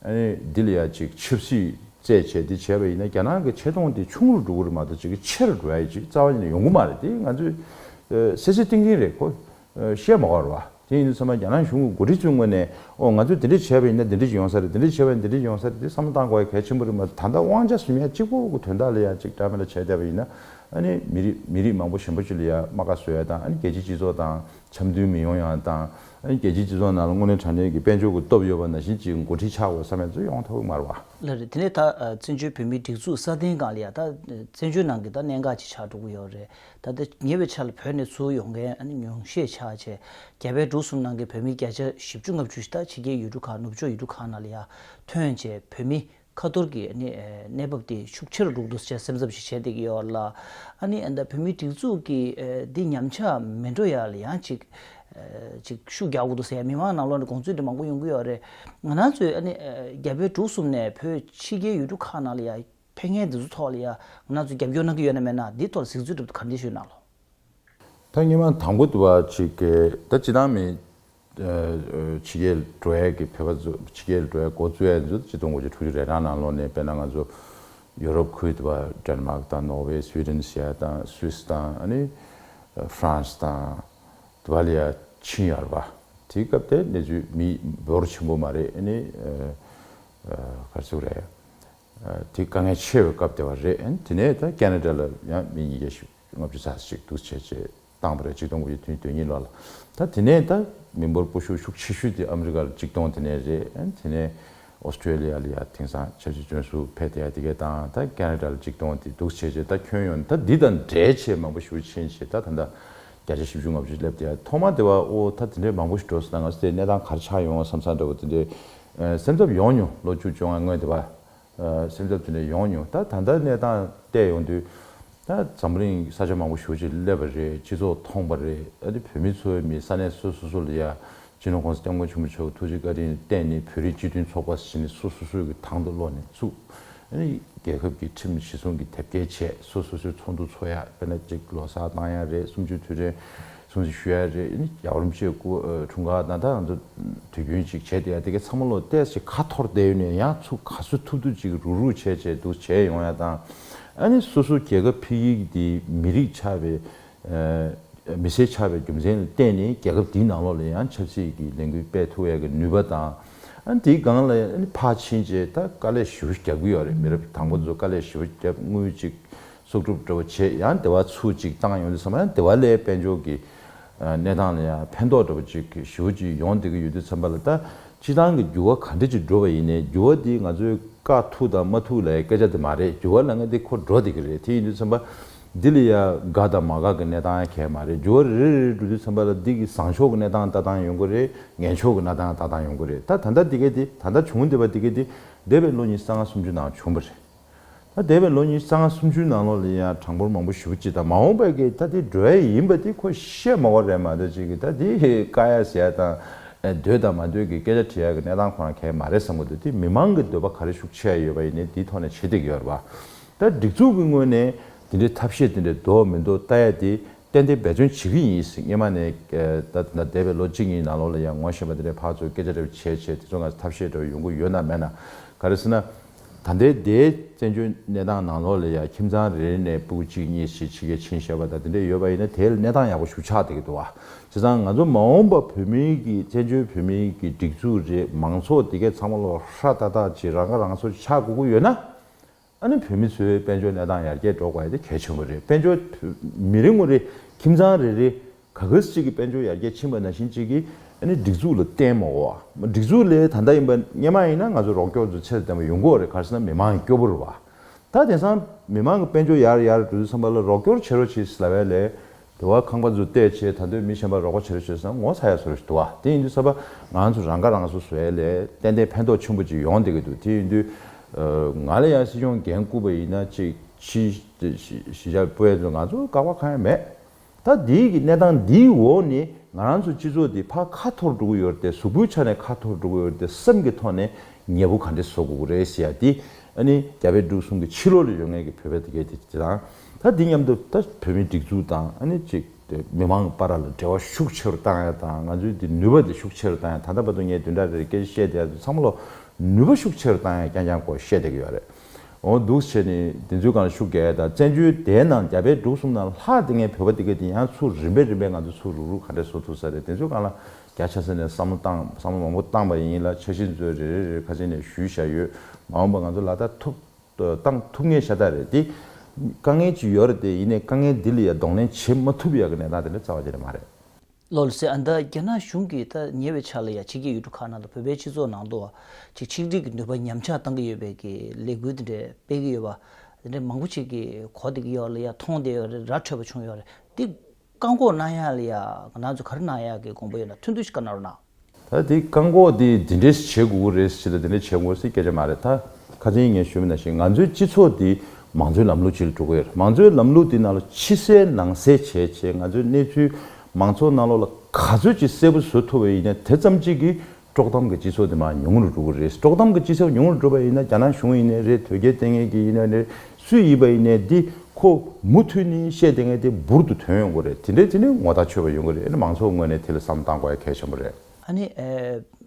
ཨ་ནི་འདི་ལ་ཡ་ཅིག་ཆབ་སྲིད་བརྩད་བྱས་འདི་བྱས་པ་ཡིན་ན་རྒྱ་ནག་གི་ཆེ་མཐོང་དེ་ཆུང་རུ་འགྲོ་གི་རེད་མ་གཏོགས་ཅིག་གི་ཆེ་རུ་འགྲོ་ཡ་ཅིག་རྩ་བ་ནས་ཡོང་གི་མ་རེད་དེ་ང་ཚོས་གསལ་གསལ་ཏིང་ཏིང་རེད་གོ་བཤད་མ་གོར་བ། དེ་ཡིན་དུས་ཚང་མས་རྒྱ་ནག་གཞུང་གི་འགོ་ཁྲིད་ཚོའི་ངོས་ནས་ཨོ་ང་ཚོས་འདི་འདྲ་བྱས་པ་ཡིན་ན་འདི་འདྲ་ཅིག་ཡོང་ས་རེད་འདི་འདྲ་བྱས་པ་ཡིན་ན་འདི་འདྲ་ཅིག་ཡོང་ས་རེད་དེ་བསམ་བློ་གཏང་དགོས་ཡ་གལ་ཆེན་པོ་རེད་མ་གཏོགས་ད་ལྟ་དབང་ཆ་ཟུར་ཡ་གཅིག་པོ་གི་དོན་དག་ལ་ཡ་གཅིག་འདྲ་མེད་ལ་བྱས་བསྡད་པ་ཡིན་ན་ཨ་ནི་མི་རིགས་མི་རིགས་མང་པོ་གཞན་པ་ཅིག་ལ་ཡ་རྨ་ཁ་བཟོ་ཡ་དང་ཨ་ནི་རྒྱལ་སྤྱིའི་སྤྱི་ཚོགས་དང་འཆམ་མཐུན་མི་ཡོང་ཡ་དང་ཨ་ནི་རྒྱལ་སྤྱིའི་སྤྱི་ཚོགས་ནང་ལ་དངོས་གནས་དྲང་བདེན་གྱི་དཔལ་འབྱོར་གྱི་སྟོབས་ཡོད་པ་ནང་བཞིན་གྱི་འགོ་ཁྲིད་ཆགས་དགོས་བསམ་ཡ་ཚོ་ཡོང་ཐབས་དམར་བ། ལ་རེད་དེ་ནས་ད་བཙན་བྱོལ་བོད་མིའི་སྒྲིག་འཛུགས་སྲ་བརྟན་སྒང་ལ་ཡ་ད་བཙན་བྱོལ་ནང་གི་ད་གནད་འགག་ཅིག་ཆགས་འགྲོ་གི་ཡོད་རེད་ད་ལྟ་ཉེ་བའི་ཆར་ལ་བོད་ནས་ཚུར་ཡོང་མཁན་ཨ་ནེ་ཉུང་ཤས་ཆགས་རྗེས་རྒྱ་བལ་འབྲུག་གསུམ་ནང་གི་བོད་མི་བརྒྱ་ཆ་བཞི་བཅུ་ལྔ་བཅུ་ཞིག་ད་ཕྱི་རྒྱའི་ཡུལ་གྲུ་ཁག་ནུབ་ཕྱོགས་ཡུལ་གྲུ་ཁག་ནང་ལ་ཡར་ཐོན་རྗེས་བོད་མི་ཁ་ཐོར་གྱི་ཨ་ནེ་གནས་བབ་དེ་ཤུགས་ཆེ་རུ་འགྲོ་འདུག་ཅེས་སེམས་འཚབ་ཞིག་བྱེད་བསྡད་ཀྱི་ཡོད་ལ། ཨ་ནེ་ད་བོད་མིའི་སྒྲིག་འཛུགས་ཀྱི་འདི་ཉམས་ཆག་མི་འགྲོ་ཡ་ལ་ཡང་ཅིག་ཅིག་ཤུགས་རྒྱག་དགོས་འདུག་ཟེར་ཡ་མི་མང་ནང་ལོགས་ནས་དགོངས་ཚུལ་འདི་མང་པོ་ཡོང་གི་ཡོད་རེད། ང་རང་ཚོས་ཨ་ནེ་རྒྱ་བལ་འབྲུག་གསུམ་ནས་བོད་ཕྱི་རྒྱའི་ཡུལ་གྲུ་ཁག་ནང་ལ་ཡར། ཕན་ངན་འདི་ཚོ་ཐོག་ལ་ཡང་ང་ཚོས་རྒྱབ་སྐྱོར་གནང་གི་ཡོད་ན་མེད་ན་འདིའི་ཐོག་ལ་གཟིགས་ཚུལ་སྒྲུབ་དུ་ག་འདྲེ་ཞུས་གནང་ལོ། ད་སྙན་མ་དང་པོ་བ་ཆི་ཀའི་ད་ཅི་ཐང་མི། ཆི་ཀའི་བྲོ་ཨེ་ཀི་བྷེ་བ་ཚོ་ཆི་ཀའི་བྲོ་ཨེ་གོ་ཙུ་ཨེ་ཚོ་ད་ཅི་སྟོང་གོ་ཅི་ཁྲུ་ཅུ་རེ་ཐང་ནང་ལོག་ནས་པེ་ན་ང་ཚོ་ཡོ་རོབ་ཁུལ་དུ་བ་དྲན་མག་དང་ནོག་ཝེ་སུའི་ཏིན་སི་ཡ་དང་སུའི་སི་དང་ཨ་ནི་ཧྥ་རན་སི་དང་དུ་བ་ལ་ཡ་ཆིན་ཡར་བ་དེའི་སྐབས་དེ་ནས་ཚུལ་མི་འབོར་ཆེན་པོ་མ་རེད་ཨེ་ནི་ཧྥ་རན་སིའུ་རེད་དེ་དཀའ་ངལ་ཆེ་བའི་སྐབས་དེ་བ་རེད། དེ་ནས་ད་ཀན་ན་ཀྲ་ལ་ཡང་མི་ཉིས་བརྒྱ་ཞེ་ལྔ་བཅུ་ཚར་གཅིག་འདུག་བྱས་རྗེས་བཏང་བ་རེད་གཅིག་སྟོང་དགུ་བརྒྱ་དུས་དོན་གཉིས་ལོག་ལ། ད་དེ་ནས་ད་མི་འབོར་སྤོ་ཤུགས་ཤུགས་ཆེ་ཤོས་དེ་ཨ་མི་རི་ཀ་ལ་གཅིག་སྟོང་དེ་ནས་རེད། དེ་ནས Australia ལ་ཡང་དེང་སང་ཆབ་སྲིད་བཙོན་ཟུར་ཕེབས་དེ་ཡང་དེ་གས་བཏང་ད་ཀན་ན་ཀྲ་ལ་གཅིག་སྟོང་དེ་འདུག་བྱས་རྗེས་ད་ཁྱོན་ཡོངས་ད་འདི་དང་འདྲའི་ཆེས་མང་པོ་ཞུ་ཆེན་བྱས་ད་ད་ལྟ་བརྒྱ་ཆ་བཞི་བཅུ་ལྔ་བཅུ་སླེབས་དེ་ཡང་ཐོག་མ་དེ་བ་ཨོ་ད་དེ་འདྲའི་མང་པོ་ཞིག་འགྲོ་སོང་ད་ང་ཚོ་དེ་གནས་སྟངས་གར་ཆགས་ཡོང་བ་བསམ་ས་འདྲ་བོ་དེ་འདྲའི་སེམས་འཚབ་ཡོང་མྱོང་ལོ་བཅུ་བཅོ་ལྔའི་སྔོན་དེ་བར། སེམས་འཚབ་དེ་འདྲ་ཡོང་མྱོང་ད་ད་ལྟ་གནས་སྟངས་བལྟས་ཡོང་དུས། ད་འཛམ་བུ་གླིང་ས་ཆ་མང་པོ་ཞོ་གཅིག་སླེབས་པ་རེད་སྤྱི་ཚོགས་ཐོངས་པ་རེད་ཨ་ཏི་བོད་མི་ཚོའི་མི་ས་གནས་སོ་སོ་སོ་ལ་ཡ། སྤྱི་ནོར ྋགོང་ས ྋསྐྱབས་མགོན་ཆེན་པོ་མཆོག་གི་ཐུགས་རྗེ་བཀའ་དྲིན་བརྟེན་ནི་བོད་རིགས་སྤྱི་མཐུན་ཚོགས་པ་ཞེས་ནི་སོ་སོ་སོའི་གི་ཐང་དུ་བློ་ནས་བཙུགས། རྒྱལ་ཁབ་ཀྱི་ཁྲིམས་གཞི་སྲུང་གི་དེབ་སྐྱེལ་བྱས་སོ་སོ་སོའི་ཚོགས་འདུ་འཚོགས་ཡ་དེ་ནས་གཅིག་ལོ་སར་བཏང་ཡ་རེད་གསུམ་བཅུ་དུས་དྲན། སྲུང་བརྩི་ཞུ་ཡ་རེད་ཡ་རོ་མཆེད་སྐུ་དྲུང་ག་ད་ད་འདུག་དུས་རྒྱུན་གཅིག་བྱས་དེ་ཡ་དེ་གས་ཚང་མ་ལོ་ཏས་ཅིག་ཁ་འཐོར་བསྡད་ཡོད་ནས་ཡ་ཚུགས་ག་ཚོད་ཐུབ་ཐུབ་ཅིག་རུག་རུག་བྱས་བྱས་འདུག་བྱས་ཡོང་ཡ་དང་ཨ་ནི་སོ་སོ་རྒྱལ་ཁབ་ཕི་ཡིག་དེ་མི་རིགས་ཆ་བའི་མི་སེར་ཆ་བའི་རྒྱུ་མཚན་ལ་བསྟན་ནས་རྒྱལ་ཁབ་དེའི་ནང་ལོག་ལ་ཡང་ཆབ་སྲིད་ཀྱི་ལས་འགུལ་སྤེལ་ཐུབ་ཡ་གི་ནུས་པ་དང་ཨ་ནི་དེའི་སྒང་ལ་ཨ་ནི་ཕ་ཕྱིན་རྗེས་ད་དཀའ་ལས་ཞིབ་བོ་རྒྱབ་གི་ཡོད་རེད་མི་རབས་དང་པོ་ཚོ་དཀའ་ལས་ཞིབ་བོ་རྒྱབ་དངུལ་ཅིག་སྲོག་སྒྲུབ་སྒྲོལ་བ་བྱེད་ཡང་བདེ་བ་ཚུལ་གཅིག་བཏང་ཡོང་དུས་ཚང་མ་བདེ་བ་ལས་དཔལ་འབྱོར་གྱི་གནས་སྟངས་ལ་ཡང་ཕན་ཐོགས་འགྲོ་བ་ཅིག་ཞུ་ཅི་ཡོང་བསྡད་ཀྱི་ཡོད་དུས་ཚང་མ་ལ་ལྟ་སྤྱི་བཏང་གི་འགྱུར་བ་ག་འདྲ་ཅིག་འགྲོ་བ་ཡིན་ནའི་འགྱུར་བ་འདི་ང་ཚོའི་དཀའ་ཐུག་དང་མ་ཐུག་ལའི་སྐད་ཆ་དེ་མ་རེད་འགྱུར་བ་ལ་ངེས་དེ་འཁོར་འགྲོ་བསྡད་ཀྱི་རེད་དེ་ཡིན་དུས་ཚང་མ་འདི་ལ་ཡང་དགའ་དང་མ་དགའ་གི་གནས་སྟངས་ཡང་གལ་མ་རེད་འགྱུར་བ་རེ་རེ་རེ་འགྲོ་དུས་ཚང་མ་ལ་འདི་གི་བཟང་ཕྱོགས་ཀྱི་གནས་སྟངས་ལྟ་སྟངས་ཡོང་གི་རེད་ངན་ཕྱོགས་ཀྱི་གནའ་སྟངས་ལྟ་སྟངས་ཡོང་གི་རེད་ད་ད་ལྟ་འདི་ག་དེ་ད་ལྟ་བྱུང་བསྡད་པ་འདི་ག་དེ་འདས་པའི་ལོ་ཉིས་སྟ་ལྔ་སུམ་ཅུ་ནང་བྱུང་བ་རེད། ད་འདས་པའི་ལོ་ཉིས་སྟོང་ལྔ་སུམ་ཅུའི་ནང་ལོགས་ལ་ཡང་གྲངས་འབོར་མང་པོ་ཞུ་བ་ཅི་དང་མ་འོངས་པའི་གི་ད་དེ་འགྲོ་ཡ་ཡིན་པ་དེ་ཁོ་ཤེས་མ་བ་རེད་མ་གཏོགས་ཅིག་གི་ད་དེ་བཀག་ཡ་ཟེར་ཡ་དང་འདོད་དང་མ་འདོད་གི་སྐད་ཆ་དྲི་ཡ་གི་གནས་སྟངས་ཁོ་རང་གལ་མ་རེད་བསམ་གི་འདུག་དེ་མི་མང་གི་འདོད་པ་ག་རེ་ཤུགས་ཆེ་ཡ་ཡོད་པ་ཡིན་ནའི་དེའི་ཐོག་ནས་བྱེད་སྟེགས་ཡོད་རེད་པ། ད་སྒྲིག་འཛུགས་གི་ངོས་ནས་དེ་འདྲའི་ཐབས་ཤེས་དེ་འདྲའི་འདོག་མི་འདོག་ལྟ་ཡ་དེ་ཏན་ཏན་འབད་བརྩོན་བྱེད་གི་ཡིན་སྙེ་མ་ནས་ད་ད་འདས་པའི་ལོ་གཅིག་གཉིས་ནང་ལོགས་ལ་ཡང་ངོ་ཤེས་པ་དེ་འདྲའི་ཕག་ཚོ་སྐད་ཆ་འདྲ་བ་བྱས་བྱས་དེ་ཚོ་ང་ཚོ་ཐབས་ཤེས་འདྲ་བ་ཡོང་གི་ཡོད་ན་མེད་ན་ག་རེ་ཟེར་ན། ད་ལྟའི་སྡེའི་བཙན་བྱོལ་གནས་སྟངས་ནང་ལོགས་ལས་ཡ་ཁྱིམ་ཚང་རེ་རེ་ནས་སྤུ་གཅིག་གཉིས་གཅིག་ཕྱི་རྒྱལ་ཕྱིན་ཤེས་པ་དང་དེ་འདྲ་ཡོད་པ་ཡིན་ན་དེའི་གནས་སྟངས་ཡག་པོ་ཞུ་ཆགས་བསྡད་ཀྱི་འདུག་བྱས་ཙང་ང་ཚོ་མ་འོངས་པ་བོད་མི་གི་བཙན་བྱོལ་བོད་མི་གི་སྒྲིག་འཛུགས་རེད་མང་ཚོགས་དེ་གས་ཚང་མ་ལོགས་ཧྲ་ལྟ་ལྟ་ཅིག་རང་ཁ་རང་གསོ་ཆགས་དགོས་ཀྱི་ཡོད་ན། ཨ་ནི་བོད་མི་ཚོའི་དཔལ་འབྱོར་གནས་སྟངས་ཡར་རྒྱས་འགྲོ་དགོས་པ་དེ་གལ་ཆེན་པོ་རེད་དཔལ་འབྱོར་མི་རེ་ངོ་རེ་ཁྱིམ་ཚང་རེ་རེ་ག་གེ་སི་གཅིག་གི་དཔལ་འབྱོར་ཡར་རྒྱས་ཕྱིན་པ་ནང་བཞིན་གཅིག་གིས་སྒྲིག་འཛུགས་ལ་བརྟེན་མོད། སྒྲིག་འཛུགས་ལས་ད་ལྟ་ཡིན་པ་སྙེ་མ་ཡིན་ན་ང་ཚོ་རོགས་སྐྱོར་དུ་ཚད་ལྡན་པ་ཡོང་གོ་རེད་ག་གེ་སི་ན་མི་མང་གི་སྐྱོ་པོ་རུ་བ། ད་དེང་སང་མི་མང་གི་དཔལ་འབྱོར་ཡར་ཡར་འགྲོ་དུས་ཚང་པ་ལ་རོགས་སྐྱོར་བྱེད་རོགས་བྱེད་ཟེར་བ་ལས། དེ་བ་ཁང་པ་འཛུགས་བལྟས་བྱེད་ད་འདོད་མི་གཞན་པ་རོགས་པ་བྱེད་རོགས་བྱེད་ཟེར་ན་ངོ་ཚ་ཡག་བཟོ་རོགས་བྱེད་དུ་བ་དེ་ཡིན་དུས་ཚང་པ་ང་ཚོ་རང་ཁ་རང་གསོ་བཟོ་བས་ལས་ཏན་ཏན་ཕན་ཐོག་ཆེན་པོ་ཅིག་ཡོང་བསྡད་ཀྱི་འདུག་དེ་ཡིན་དུས་ང་ལ་ཡང་སྲིད་སྐྱོང་འགན་བསྐུར་པ་ཡིན་ན་གཅིག་ཕྱིས་ཞི་བྱ་སྤོས་ང་ཚོ་དགག་པ་གང་ཡང་མེད། ད་ལྡིའི་གི་གནས་སྟངས་འདིའི་འོག་ནས་ང་རང་ཚོ་སྤྱི་ཚོགས་འདི་ཕ་ཁ་འཐོར་འགྲོ་གི་ཡོད་དེ་གཟུགས་པོའི་ཆ་ནས་ཁ་འཐོར་འགྲོ་གི་ཡོད་དེ་སེམས་ཀྱི་ཐོག་ནས་ཉེས་པོ་ག་འདྲི་བཟོ་དགོས་ཀྱི་རེད་ཞེས་ཡ་དེ་ཨ་ནི་རྒྱ་བལ་འབྲུག་གསུམ་གྱི་ཕྱི་ལོག་ལ་ཡོད་མཁན་གྱི་བོད་པའི་དེ་གས་དེ་དེ་དང་ད་འདི་མཉམ་དུ་ད་བོད་མིའི་སྒྲིག་འཛུགས་དང་ཨ་ནི་ཅིག་དེ་མི་དམངས་གི་པ་ར་ལ་འབྲེལ་བ་ཤུགས་ཆེ་རུ་བཏང་ཡ་དང་ང་ཚོའི་དེ་ནུས་པ་དེ་ཤུགས་ཆེ་རུ་བཏང་ཡ་ད་ལྟ་བར་དུ་ངས་དུས་འདྲ་རེར་སྐད་ཆ་བཤད་དེ་ཡ་ཚོ་ཚང་མ་ལ་ནུས་པ་ཤུགས་ཆེ་རུ་བཏང་ཡ་རྐྱང་རྐྱང་སྐོར་བཤད་བསྡད་ཀྱི་ཡོད་རེད། འོང་འདུག་བྱས་ནས་དེ་ཚོའི་སྒང་ཤུགས་རྒྱག་ཡ་དང་བཙན་བྱོལ་དེའི་ནང་རྒྱ་བལ་འབྲུག་གསུམ་ནང་ལྷག་དེ་ངའི་བོད་པ་དེ་ག་དེ་ཡང་ཚུར་རིམ་པས་རིམ་པས་ང་ཚོ་ཚུར་རུག་རུག་ག་འདྲས་བཟོ་ཐུབ་ས་རེད་དེ་ཚོའི་སྒང་ལ་རྒྱ་ཆ་ས་ནས་བསམ་བློ་བཏང་བསམ་བློ་མང་པོ་བཏང་པ་ཡིན་ལ་འཆར་གཞི་མཛོད་རེ་རེ་རེར་ཁ་ཆེ་ནས་ཞུས་བཞག་ཡོད་མ་འོངས་པ་ང་ཚོ་ལག་བསྟར་ཐུབ་བཏང་ཐུབ་ངེས་ཤ་སྟག་རེད་དེ། དཀའ་ངལ་ཅིག་ཡོད་རེད་དེ་ཡིན་ནས་དཀའ་ངལ་འདི་ལ་ཡ་གདོང་ལེན་བྱེད་མ་ཐུབ་ཡག་གི་གནས་སྟངས་དེ་འདྲ་རྩ་བ་ཆེ་རེད་མ་རེད། བློ་ལ་སེ་ཨ་འདི་རྒྱ་ནག་གཞུང་གིས་ད་ཉེ་བའི་ཆར་ལ་ཡ་ཕྱི་གི་ཡུལ་གྲུ་ཁག་ནང་དང་བོད་པའི་སྤྱི་ཚོགས་ནང་དུ་ཅིག་ཆིག་སྒྲིལ་གྱི་ནུས་པ་ཉམས་ཆག་བཏང་གི་ཡོད་པའི་གི་ལས་འགུལ་དེ་འདྲས་སྤེལ་གི་ཡོད་པ་དེ་འདྲས་མང་པོ་ཅིག་གི་གོ་བདེ་གི་ཡོད་ལ་ཡ་མཐོང་བདེ་ཡོད་རེད་ར་འཕྲོད་པ་བྱུང་ཡོད་རེད་དེ་བཀག་འགོག་གནང་ཡག་ལ་ཡ་ང་ཚོས་ག་རེ་གནང་ཡག་གི་དགོངས་པ་ཡོད་ན་ཐུགས་འདུན་ཞིག་བཀའ་གནང་རོགས་གནང། ད་དེ་བཀག་འགོག་དེ་འདི་འདྲས་བྱེད་དགོས་ཀྱི་རེད་ཟེར་ལ་དེ་འདྲས་བྱེད་དགོས་ཟེར་སྐད་ཆ་མ་རེད་ད་ཁ་ཚིག་ངས་ཞུ་མི་ནང་བཞིན་ང་ཚོའི་སྤྱི་ཚོགས་དེ་མང་གཙོའི་ལམ་ལུགས་ཅིག་ལ་འགྲོ་གི་ཡོད་རེད་མང་གཙོའི་ལམ་ལུགས་དེ་ནང་ལ་ཕྱི་གསལ་ནང་གསལ་བྱས་བྱས་ང་ཚོའི་གནས་ཚུལ་མང་ཚོགས་ནང་ལོགས་ལ་ག་ཚོད་ཅིག་གསལ་པོ་བཟོ་ཐུབ་པ་ཡིན་ན་དེ་ཙམ་ཅིག་གིས་དཀྲོག་གཏམ་གྱི་སྤྱི་ཚོགས་དེ་མང་ཉུང་རུ་འགྲོ་གི་རེད་དཀྲོག་གཏམ་གྱི་སྤྱི་ཚོགས་ཉུང་རུ་འགྲོ་པ་ཡིན་ན་རྒྱ་ནག་གཞུང་ཡིན་ནའི་རེད་དོལ་རྒྱལ་བསྟེན་མཁན་གྱི་ཡིན་ནའི་རེད་སུའི་ཡིད་པ་ཡིན་ནས་འདི་ཁོ་མུ་མཐུད་ནི་བཤད་དེ་ངས་དེ་འབུར་དུ་དོན་ཡོང་གི་རེད་དེ་འདྲའི་དེ་ནི་ངོ་ཐག་ཆོད་པ་ཡོང་གི་རེད་ཨ་ནི་མང་ཚོགས་ངོས་ནས་དེ་ལ་བསམ་བཏང་དགོས་ཡ་གལ་ཆེན་པོ་རེད། ཨ་ནི་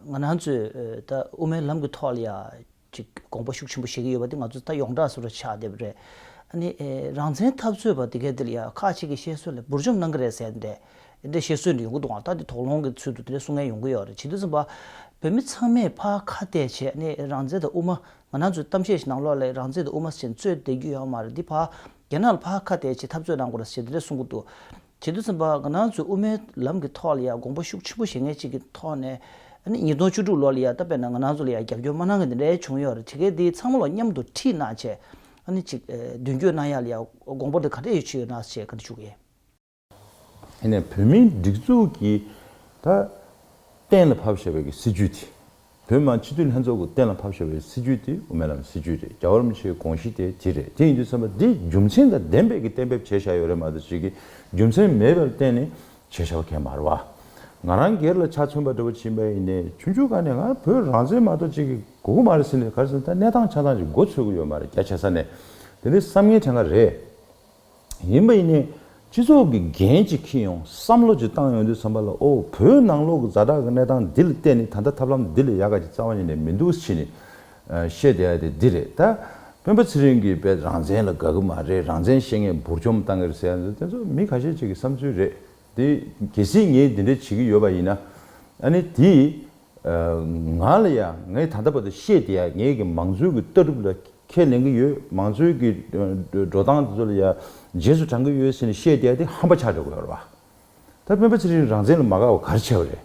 ང་རང་ཚོས་ད་དབུ་མའི་ལམ་གི་ཐོག་ལ་ཡ་གཅིག་དགོངས་པ་ཤུགས་ཆེན་པོ་བཞེས་ཀྱི་ཡོད་པ་དེ་ང་ཚོ་ད་ཡོངས་གྲགས་སུ་ར་ཆགས་བསྡད་པ་རེད། ཨ་ནི་རང་བཙན་འཐབ་རྩོད་པ་དེ་གའི་དེ་ལ་ཡ་ཁག་ཅིག་གི་བཤད་སྲོལ་ལ་འབུར་འཇོམས་གནང་གི་རེད་ཟེར་ཏེ་དེ་འདྲའི་བཤད་སྲོལ་འདི་ཡོང་གི་འདུག་ཨང་ད་དེ་དོགས་སློང་གི་ཚུལ་དུ་དེ་འདྲའི་གསུང་ངན་ཡོང་གི་ཡོད་རེད་བྱེད་དུས་བསམ་པ། བོད་མི་ཚང་མས་ཕ་ཁ་གཏད་བྱས་ཨ་ནི་རང་བཙན་དང་དབུ་མ་ང་ནང་ཚོས་གཏམ་བཤད་ཞིག་ནང་ལོག་ལས་རང་བཙན་དུ་དབུ་མ་ཆེན་གཙོས་བསྡད་རྒྱུ་ཡོད་མ་རེད་འདི་ཕ། རྒྱ་ནག་ལ་ཕ་ཁ་གཏད་ཆེད་འཐབ་རྩོད་གནང་དགོས་རེད་ཟེར་དེ་འདྲ་གསུང་གི་འདུག་ཇེ་བསྟོད་ཚན་པ་ང་ནང་ཚོས་དབུ་མའི་ལམ་གི་ཐོག་ལ་ཡང་དགོངས་པ་ཤུགས་ཆེན་པོ་བཞེས་མཁན་ཅིག་གི་ཐོག་ནས། ཉིས་སྟོང་བཅུ་དྲུག་ལོ་ལ་ཡང་ད་བལ་ན་ང་ནང་ཚོ་ལ་ཡང་རྒྱབ་སྐྱོར་མ་གནང་མཁན་དེ་འདྲ་ཡང་བྱུང་ཡོད་རེད་དེ་གལ་ཏེ་ཚང་མ་ལ་མཉམ་དུ་ཁྲིད་གནང་ཆེད། ཅིག་མདུན་བསྐྱོད་གནང་ཡག་ལ་ཡང་དགོངས་པ་འདི་ག་འདྲ་ཡོད་ཆེ་ཡོད་ནང་ཞེས་ག་འདྲ་ཞུ་གི་ཡིན། ནས་བོད་མིའི་སྒྲིག་འཛུགས་ཀྱི་ད་གཏན་ལ་ཕབ་ཞེས་པའི་གི་སྲིད་ཇུས་དེ། བོད་མང་སྤྱི་འཐུས་ལྷན་ཚོགས་ཀྱི་གཏན་ལ་ཕབ་ཞེས་པའི་སྲིད་ཇུས་དེ་དབུ་མའི་ལམ་སྲིད་ཇུས་རེད་རྒྱ་གར་མི་ཆེའི་དགོངས་གཞི་དེ་དེ་རེད་དེ་ཡིན་དུས་བསམ་པ་འདི་རྒྱུ་མཚན་དང་ལྡན་པས་གི་གཏན་འབེབས་བྱས་བཞག་ཡོད་རེད་མ་གཏོགས་ཅིག་གི་རྒྱུ་མཚན་མེད་པར་གཏན་ནས་བྱས་བཞག་མཁན་མ་རེད་བ། ང་རང་སྒེར་ལ་ཆ་མཚོན་པ་འདྲ་བོ་བྱིན་པ་ཡིན་ནས་ཆུང་ཆུང་ག་ནས་ང་བོད་རང་བཙན་མ་གཏོགས་ཅིག་གི་གོ་གི་མ་རེད་ཟེར་ནས་ག་རེ་ཟེར་ན་ད་གནས་སྟངས་ཆ་ཚང་ཅིག་མགོ་ཚོས་གི་ཡོད་མ་རེད་རྒྱ་ཆེ་ས་ནས་དེ་འདྲའི་བསམ་ངན་དེ་འགའ་རེད། ཡིན་པ་ཡིན་ནའི། སྤྱི་ཚོགས་ཀྱི་འགན་གཅིག་འཁྱེར་ཡོང་བསམ་བློ་གཅིག་བཏང་ཡོང་དུས་བསམ་པ་ལ་ཨོ་བོད་ནང་ལོག་གི་རྫ་དྲག་གི་གནས་སྟངས་འདི་ལ་བལྟས་ནས་ད་ལྟ་ཐབས་ལམ་འདི་ལས་ཡག་ག་ཅིག་རྩ་བ་ཉིད་ནས་མི་འདུག་ཕྱིས་ནས་ཤེས་བསྡད་ཡ་དེ་འདི་རེད། ད་སྤེན་པ་ཚེ་རིང་གིས་དཔེ་རང་བཙན་ལ་དགའ་གི་མ་རེད་རང་བཙན་ཤེས་མཁན་འབུར་འཇོམས་བཏང་གི་རེད་ཟེར་ཡ་འདུག་དེ་ཚོ་མི་ཁ་ཤས་ཅིག་གི་བསམ་ཚུལ་རེད། དེ་གལ་སྲིད་ངས་འདི་འདྲ་བྱེད་ཀྱི་ཡོད་པ་ཡིན་ན། ཨ་ནི་དེས། ང་ལ་ཡང་ངས་ད་ལྟ་བར་དུ་ཤེས་བསྡད་ཡ་ངས་ཀྱི་མང་གཙོའི་གྱི་ལྟ་གྲུབ་ལ་ཁས་ལེན་གྱི་ཡོད་མང་གཙོའི་གྱི་འགྲོ་སྟངས་དེ་ཚོ་ལ་ཡ་རྗེས་སུ་འབྲང་གྱི་ཡོད་ཟེར་ནས་ཤེས་བསྡད་དེ་ཧམ་པ་ཆགས་འདྲ་གོ་ཡོད་རེད་པ། ད་སྤེན་པ་ཚེ་རིང་རང་བཙན་ལ་མ་དགའ་བ་ག་རེ་བྱས་པ་རེད།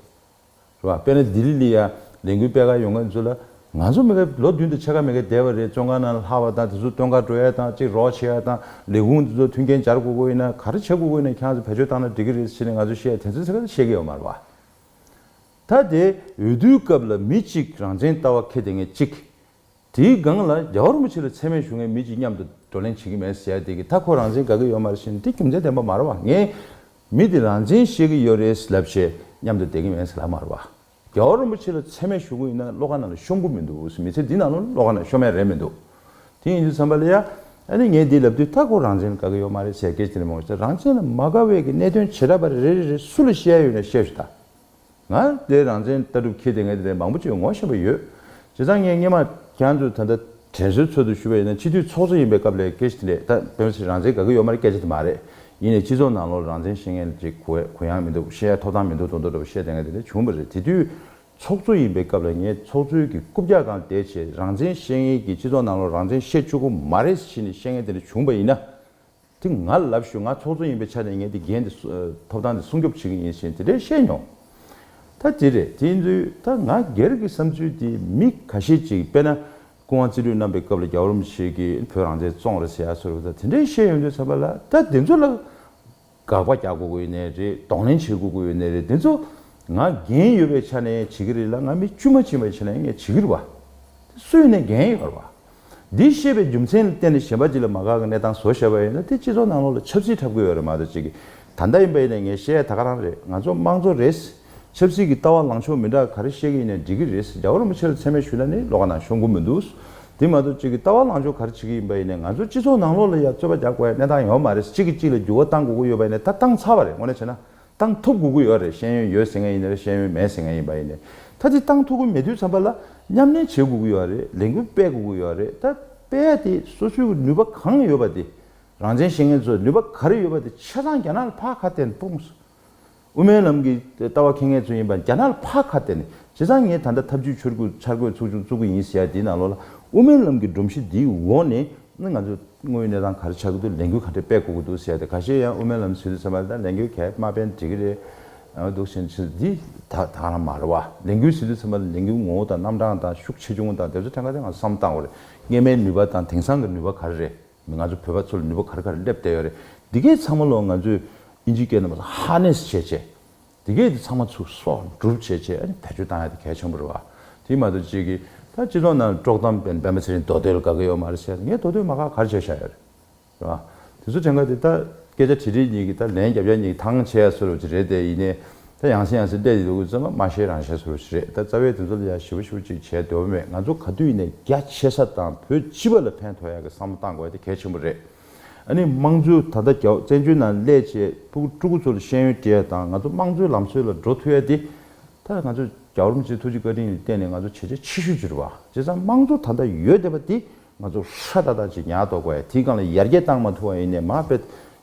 རེད། དཔེར་ན་ལྡི་ལི་ལི་ཡ་ལས་འགུལ་སྤེལ་ག་ཡོང་ག་ཚོད་ལ། ང་ཚོ་མི་ཁ་ལོ་བདུན་དུ་ཆེ་ག་མེད་ག་བསྡད་པ་རེད་བཙོན་ཁང་ནང་ལ་ལྷག་པ་དང་དེ་ཚོ་སྟོན་ག་འགྲོ་ཡ་དང་གཅིག་རོགས་བྱེད་ཡ་དང་ལས་ཁུངས་དེ་ཚོ་མཐུན་རྐྱེན་སྦྱར་དགོས་དགོས་ཡིན་ན་ག་རེ་བྱེད་དགོས་དགོས་ཡིན་ན་ཁྱང་ཚོ་བེད་སྤྱོད་བཏང་ན་འགྲིག་གི་རེད་ཟེར་ནས་ང་ཚོ་བཤད་ཡ་དེ་ཚོ་ཚེ་ག་ཚོད་བཤད་གི་ཡོད་མ་རེད་བ། ད་དེ་འོས་བསྡུའི་སྐབས་ལ་མི་གཅིག་རང་བཙན་ལྟ་བ་ཁེ་དེ་ངས་གཅིག་དེའི་སྒང་ལ་རྒྱ་གར་མོ་ཆེ་ལ་ཚད་མའི་གཞུང་ངས་མི་གཅིག་མཉམ་དུ་བགྲོ་གླེང་བྱེད་ཀྱི་མེད་ཟེར་ཡ་དེ་གི་མཐའ་ཁོ་རང་བཙན་དགའ་གི་ཡོད་མ་རེད་ཟེར་ནས་དེ་རྒྱུ་མཚན་ལྡན་པ་མ་རེད་བ་ངས་མི་དེ་རང་བཙན་ཤེས་གི་ཡོད་རེད་ལབ་བྱས་མཉམ་དུ་བསྡད་གི་མེད་ཟེར་ལབ་མ་རེད་བ། རྒྱ་གར་རིན་པོ་ཆེ་ལ་ཚད་མའི་གཞུང་ཡིན་ན་བློ་ཁ་ནང་ལ་ཤོམ་གི་མི་འདུག་མི་ཚེ་འདི་ནང་ལ་བློ་ཁ་ནང་ཤོམ་ཡ་རེད་མི་འདུག་དེ་ཡིན་དུས་བསམ་པ་ལ་ཡ་ཨ་ནི་ངས་དེ་ལབ་དུས་མཐའ་ཁོ་རང་བཙན་དགའ་གི་ཡོད་མ་རེད་ཟེར་སྐད་ཅིག་ལ་མོ་ཆེ་རང་བཙན་ལ་མ་དགའ་བས་གི་གནད་དོན་བྱེད་ད་པ་རེད་རེད་རེད་རེད་སུ་ལ་བཤད་ཡོད་ན་བཤད་ཞུ་ད། ང་ལས་རང་བཙན་ལྟ་གྲུབ་ཁྱེར་ཏེ་ངའི་དེ་འདྲའི་མང་པོ་བརྗོད་ངོ་ཤེས་པ་ཡོད། བྱས་ཙང་ངས་སྙན་མ་གྱང་དུ་ད་ལྟ་དྲན་གསོའི་ཚོད་དུ་ཞུ་བ་ཡིན་ན་སྤྱི་འཐུས་ཚོགས་གཙོ་ཡིན་པའི་སྐབས་ལས་ཀེ་ཤི་དེ་འདྲས་ད་བོད་མི་སེར་རང་བཙན་དགའ་གི་ཡོད་མ་རེད་སྐད་ཆ་དེ་མ་རེད་ཡིན་ནས་སྤྱི་ཚོགས་ནང་ལོར་རང་བཙན་ཤེས་མཁན་ལ་ཅིག་གུ་ཡངས་མི་འདུག་ཤེས་ཡ་ཐོབ་ཐང་མི་འདུག་ཚོགས་འདུ་འགྲོ་བ་ཤེས་ཏེ་ང་དེ་འདྲས་བྱུང་པ་རེད་དེ་དུས་ཚོགས་གཙོ་ཡིན་པའི་སྐབས་ལ་ངས་ཚོགས་གཙོའི་གི་རྐུབ་བཀྱག་གང་བསྡད་བྱས་རང་བཙན་ཤེས་མཁན་གྱི་སྤྱི་ཚོགས་ནང་ལོར་རང་བཙན་ཤེས་ཆོག་གི་མ་རེད་ཤི་ནས་ཤེས་མཁན་དེ་འདྲས་བྱུང་པ་ཡིན་ན་དེ་ང་ལབ་ཞུ་ང་ཚོགས་གཙོ་ཡིན་པའི་ཆ་ནས་ངས་དེ་འགན་དེ་ཐོབ་ཐང་དེ་སྲུང་སྐྱོབ་བྱེད་ཀྱི་ཡིན་ཞེས་དེ་འདྲས་བཤད་མྱོང། ད་དེ་རེད་དེ་ཡིན་དུས་ད་ང་སྒེར་གྱི་བསམ་ཚུལ་དེ་མི་ག་ཤེད་ཅིག་དཔེ་ན་སྐུ་དབང་རྩིས་ལུས་གནང་པའི་སྐབས་ལ་རྒྱ་བོར་མི་ཞིག་གིས་བོད་རང་བཙན་བཙོང་རེད་ཟེར་ཡག་ཟེར་རོ་ད་དེ་འདྲས་བཤད་ཡོང་དུས་ཚར་པ་ལ་ད་དེ་ཚོ་ལ་དགག་པ་རྒྱག་དགོས་དགོས་ཡོད་ནའི་རེད་གདོང་ལེན་བྱེད་དགོས་དགོས་ཡོད་ནའི་རེད་དེ་ཚོ་ང་འགན་ཡོད་པའི་ཆ་ནས་བྱེད་ཀྱི་རེད་ལ་ང་མི་དཀྱུས་མ་བྱེད་པའི་ཆ་ནས་ངས་བྱེད་ཀྱི་རུ་བ། དེ་སུ་ཡིན་ནའི་འགན་ཡོད་རུ་བ། འདིའི་བཤད་པའི་རྒྱུ་མཚན་ལ་བརྟེན་ནས་གཞན་པ་ཅིག་ལ་མ་དགའ་གི་གནས་སྟངས་བཟོ་ཤེས་པ་ཡིན་ན་དེ་སྤྱི་ཚོགས་ནང་ལོགས་ལ་ཆབ་སྲིད་འཁྲབ་དགོས་ཡོད་རེད་མ་གཏོགས་ཅིག་ད་ལྟ་ཡིན་པ་ཡིན་ནས་ངས་བཤད་ཡ་ད་ག་རང་རེད་ང་ཚོ་དམངས་གཙོ་རེད། ཆབ་སྲིད་ཀྱི་ལྟ་བ་ལངས་ཕྱོགས་མི་འདྲ་ག་རེ་བཤད་གི་ཡིན་ནས་འགྲིག་གི་རེད་རྒྱ་གར་རིན་པོ་ཆེ་ལ་ཚད་མའི་ཞུ་ལ་ནི་ལོགས་ན་ཤོང་གི་མི་འདུག་དེ་མ་གཏོགས་ཅིག་གི་ལྟ་བ་ལངས་ཕྱོགས་ག་རེ་བྱེད་ཀྱི་ཡིན་པ་ཡིན་ནས་ང་ཚོ་སྤྱི་ཚོགས་ནང་ལོགས་ལ་ཡ་རྩོད་པ་རྒྱག་དགོས་ཡ་གནས་སྟངས་ཡོད་མ་རེད་ཅིག་གི་ཅིག་ལ་འགྱུར་བ་གཏང་དགོས་ཀྱི་ཡོད་པ་ཡིན་ནས་ད་བཏང་ཚར་བ་རེད་དངོས་གནས་བྱས་ན་ཏང་ཐུགས་དགུ་གུ་ཡོད་རེད་ཤེས་ཡོན་ཡོད་ཟེར་མཁན་ཡིན་ནའི་ཤེས་ཡོན་མེད་ཟེར་མཁན་ཡིན་པ་ཡིན་ནའི་ད་ལྟའི་ཏང་ཐུགས་དགུ་མེད་དུས་ཚང་པ་ལ་མཉམ་ལེན་བྱེད་དགུ་གུ་ཡོད་རེད་ལས་འགུལ་སྤེལ་དགུ་གུ་ཡོད་རེད་ད་སྤེལ་ཏེ་སོ་སོའི་ནུས་པ་གང་ཡོད་པ་དེ་རང་བཙན་ཤེས་མཁན་ཚོས་ནུས་པ་ག་རེ་ཡོད་པ་དེ་ཆ་ཚང་རྒྱ་ནག་ལ་ཕག་ཁ་གཏད་ནས་སྤུངས་སོ། དབུ་མའི་ལམ་གྱི་ལྟ་བ་འཁྱེར་མཁན་ཚོས་ཡིན་པ་རྒྱ་ནག་ལ་ཕག་ཁ་གཏད་ནས་བྱས་ཙང་ངས་ད་ལྟ་ཐབས་ཇུས་འཆར་འགོད་ཚུགས་ཆུང་བཙུགས་གི་ཡིན་ཟེར་ཡ་དེའི་ནང་ལོགས་ལ་དབུ་མའི་ལམ་གྱི་སྒྲོམ་གཞི་འདིའི་འོག་ནས་ནི་ང་ཚོས་དངོས་ཡོད་གནས་སྟངས་ག་རེ་ཆགས་ཀྱི་འདུག་ལས་འགུལ་ག་འདྲས་སྤེལ་དགོས་ཀྱི་འདུག་ཟེར་ཏེ་ག་ཤེད་ཡང་དབུ་མའི་ལམ་ཟེར་དུས་ཚང་མ་ལ་ལས་འགུལ་གས་མ་སྤེལ་འགྲིག་གི་རེད་འདུག་ཟེར་ཕྱིར་འདི་དག་དག་ན་མ་རེད་བ། ལས་འགུལ་ཟེར་དུས་ཚང་མ་ལ་ལས་འགུལ་ངོ་བོ་དང་རྣམ་གྲངས་དང་ཤུགས་ཆེ་ཆུང་དང་དེ་ཚོ་ཕྲན་ག་ཚད་ང་ཚོ་བསམ་བློ་བཏང་བ་རེད། རྙེད་མའི་ནུས་པ་དང་དེང་སང་གི་ནུས་པ་ག་རེ་རེད་མི་ང་ཚོ་བོད་པ་ཚོ་ལ་ནུས་པ་ག་རེ་ག་རེ་སླེབས་བསྡད་ཡོད་རེད་འདི་གས་ཚང་མ་ལོ་ང་ཚོས་ཨིན་ཇིའི་སྐད་རྣམས་ཧ་ནེས་བྱས་བྱས། དེ་གས་དེ་ཚང་མ་ཚུགས་གསོག་འགྲུབ་བྱེད་ཆེད་ཨ་ནི་བེད་སྤྱོད་བཏང་ཡ་དེ་གལ་ཆེན་པོ་རེད་བ། དེ་མ་གཏོགས་གཅིག་གིས་ད་སྤྱི་ཚོགས་ནང་དཀྲོག་གཏམ་སྤེལ་འདམས་པ་ཚེ་རིང་མདོ་སྟོད་ལ་དགའ་གི་ཡོད་མ་རེད་ཟེར་ངས་མདོ་སྟོད་མ་དགའ་གར་བྱས་བཞག་ཡོད་རེད་བ། དེ་ཚོ་དྲན་ག་དེ་ད་སྐད་ཆ་དྲི་དྲི་གཉིས་གིས་ད་ལན་རྒྱབ་རྒྱབ་གཉིས་གིས་ཐང་ཆད་ཡ་ཚོར་བ་ཅིག་རེད་དེ་ཡིན་ནའི་ད་ཡང་སྲིད་ཡང་སྲིད་བསྡད་ཡི་འདུག་གི་རྩོད་མ་མ་ཤེས་རང་ཤེས་ཚོར་བ་ཞིག་རེད་ད་རྩ་བའི་དེ་ཚོ་ལ་ཡ་ཞི་བ་ཞི་བ་ཅིག་བྱས་འདོད་པ་མེད་ང་ཚོ་ག་དུས་ནས་རྒྱ་ཆེ་ས་དང་བོད་སྤྱི་བ་ལ་ཕན་ཐོགས་ཡ་གི་བསམ་བློ་བཏང་དགོས་ཡ་དེ་གལ་ཆེན་པོ་རེད། ཨ་ནི་དམངས་གཙོའི་ད་ལྟ་རྒྱ་བཙན་བྱོལ་ནང་ལས་བྱེད་ཕྲུ་གུ་ཕྲུ་གུ་ཚོར་ཤེས་ཡོན་སྤྲད་དང་ང་ཚོ་དམངས་གཙོའི་ལམ་སྲོལ་ལ་འགྲོ་ཐུ་ཡ་དེ། མཐར་ང་ཚོས་རྒྱ་རོམ་གྱི་ཐུགས་རྗེ་བཀའ་དྲིན་ལ་བརྟེན་ནས་ང་ཚོ་བྱས་རྗེས་ཆེ་ཤོས་གྱུར་པ་བྱས་ཙང་དམངས་གཙོ་ད་ལྟ་ཡོད་བསྡད་པ་དེ་ང་ཚོ་ཧྲ་ཏག་ཏག་ཅིག་ཉག་ཐོག་གོ་ཡ་དེའི་སྒང་ལ་ཡར་རྒྱས་བཏང་མ་ཐུ་བ་ཡིན་ནས་མ་དཔེ་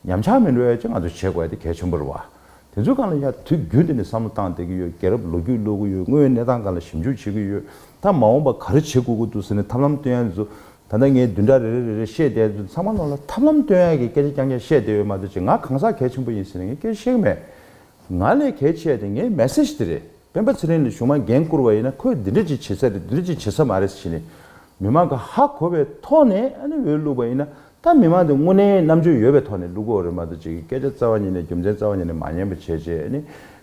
ཉམས་ཆག་མི་འགྲོ་ཡ་ཅིག་ང་ཚོ་བྱེད་དགོ་ཡ་དེ་གལ་ཆེན་པོ་རེད་བ། དེ་ཚོའི་སྒང་ལ་ཡར་དུས་རྒྱུན་དེ་ནས་བསམ་བློ་བཏང་བསྡད་ཀྱི་ཡོད་རྒྱལ་རབས་ལོ་རྒྱུས་ཀློག་གི་ཡོད་དངོས་ཡོད་གནས་སྟངས་སྒང་ལ་ཞིབ་འཇུག་བྱེད་ཀྱི་ཡོད་ད་མ་འོངས་པ་ག་རེ་བྱེད་དགོ་གི་འདུག་ཟེར་ནས་ཐབས་ལམ་བཏོན་ཡ་འདི་ཚོ་ད་ལྟ་ངས་བདུན་ཕྲག་རེ་རེ་རེ་རེ་བཤད་བསྡད་ཚུལ་ཚང་མ་ནོར་ལ་ཐབས་ལམ་སྟོན་ཡ་གི་སྐད་ཆ་རྐྱང་རྐྱང་བཤད་བསྡད་ཡོད་མ་རེད་ཅེས་ང་གང་ཟག་གལ་ཆེན་པོ་ཡིན་ཟེར་ནས་ངས་སྐད་ཆ་བཤད་གི་མེད། ང་ལས་གལ་ཆེ་ཡ་དེ་ངའི་མེ་སེར་དེ་རེད། སྤེན་པ་ཚེ་རིང་ལས་བྱུང་མ་འགན་བསྐུར་བ་ཡིན་ན་ཁོས་འདི་འདྲ་ཅིག་བྱེད་ས་རེད་འདི་འདྲ་ཅིག་བྱེད་ས་མ་རེད་ཟེར་གྱིས་ནས་མི་མང་གི་ཧ་གོ་བའི་ཐོག་ནས་ཨ་ནི་འོས་བླུགས་པ་ཡིན་ན་ད་མི་མང་དེ་དངོས་གནས་རྣམ་དཔྱོད་ཡོད་པའི་ཐོག་ནས་བླུགས་དགོས་རེད་མ་རེད་ཅེས་ཀྱི་སྐད་ཆ་རྩ་བ་ཉིད་ནས་རྒྱུ་མཚན་རྩ་བ་ཉིད་ནས་མ་ཉན་པ་བྱས་རྗེས་ཨ་ནི།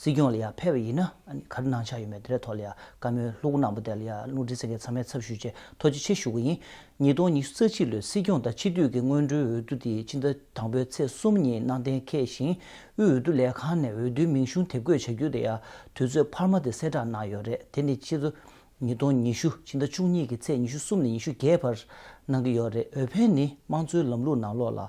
སྲིད་སྐྱོང་ལ་ཡང་ཕེབས་པ་ཡིན་ན་ག་རེ་གནང་འཆར་ཡོད་མེད་དེ་རའི་ཐོག་ལ་ཡང་བཀའ་མོལ་ལྷུག་གནང་པ་དེ་ལ་ཡང་ལུང་འདྲེན་ཚན་ཁའི་ཚང་མའི་ཚབ་ཞུས་རྗེས་ཐོ་ཇེ་ཆེར་ཞུ་གི་ཡིན། ཉིས་སྟོང་ཉི་ཤུ་རྩ་གཅིག་ལོའི་སྲིད་སྐྱོང་དང་ཕྱི་སྡོད་ཀྱི་སྔོན་འགྲོའི་འོས་བསྡུ་དེ་ཕྱི་ཟླ་དང་པོའི་ཚེས་གསུམ་ཉིན་གནང་གཏན་འཁེལ་ཞིང་དབུས་འོས་བསྡུ་ལས་ཁང་ནས་འོས་བསྡུའི་མིང་གཞུང་དེབ་འགོད་བྱ་རྒྱུ་དེ་ཡང་དུས་ཚོད་འཕར་མ་དེ་གསལ་བསྒྲགས་གནང་ཡོད་རེད་དེ་ནི་ཕྱི་ཚོ་ཉིས་སྟོང་ཉི་ཤུ་ཕྱི་ཟླ་བཅུ་གཉིས་ཀྱི་ཚེས་ཉི་ཤུ་གསུམ་ནས་ཉི་ཤུ་བརྒྱད་བར་གནང་གི་ཡོད་རེད་འོས་འཕེན་ནི་དམངས་གཙོའི་ལམ་ལུགས་ནང་ལོགས་ལ་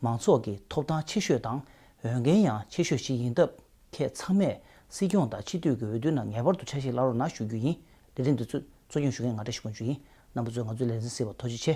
མང་ཚོགས་ཀྱིས་ཐོབ་ཐང་ཆེ་ཤོས་དང་འོས་འགན་ཡང་ཆེ་ཤོས་ཤིག་ཡིན་སྟབས་ཁྱེད་ཚང་མས་སྲིད་སྐྱོང་དང་ཕྱི་སྡོད་ཀྱི་འོས་བསྡུ་ནང་ངེས་པར་དུ་ཆ་ཞིག་ལ་རོགས་གནང་ཞུ་རྒྱུ་ཡིན་ལས་རིམ་འདི་ཚོད་གཙོ་སྐྱོང་ཞུ་མཁན་ང་འདྲ་ཞིག་དགོས་རྒྱུ་ཡིན་རྣམ་པ་ཚོས་ང་ཚོའི་ལས་འཛིན་ཟེར་བ་ཐོ་ཅི་ཆེ།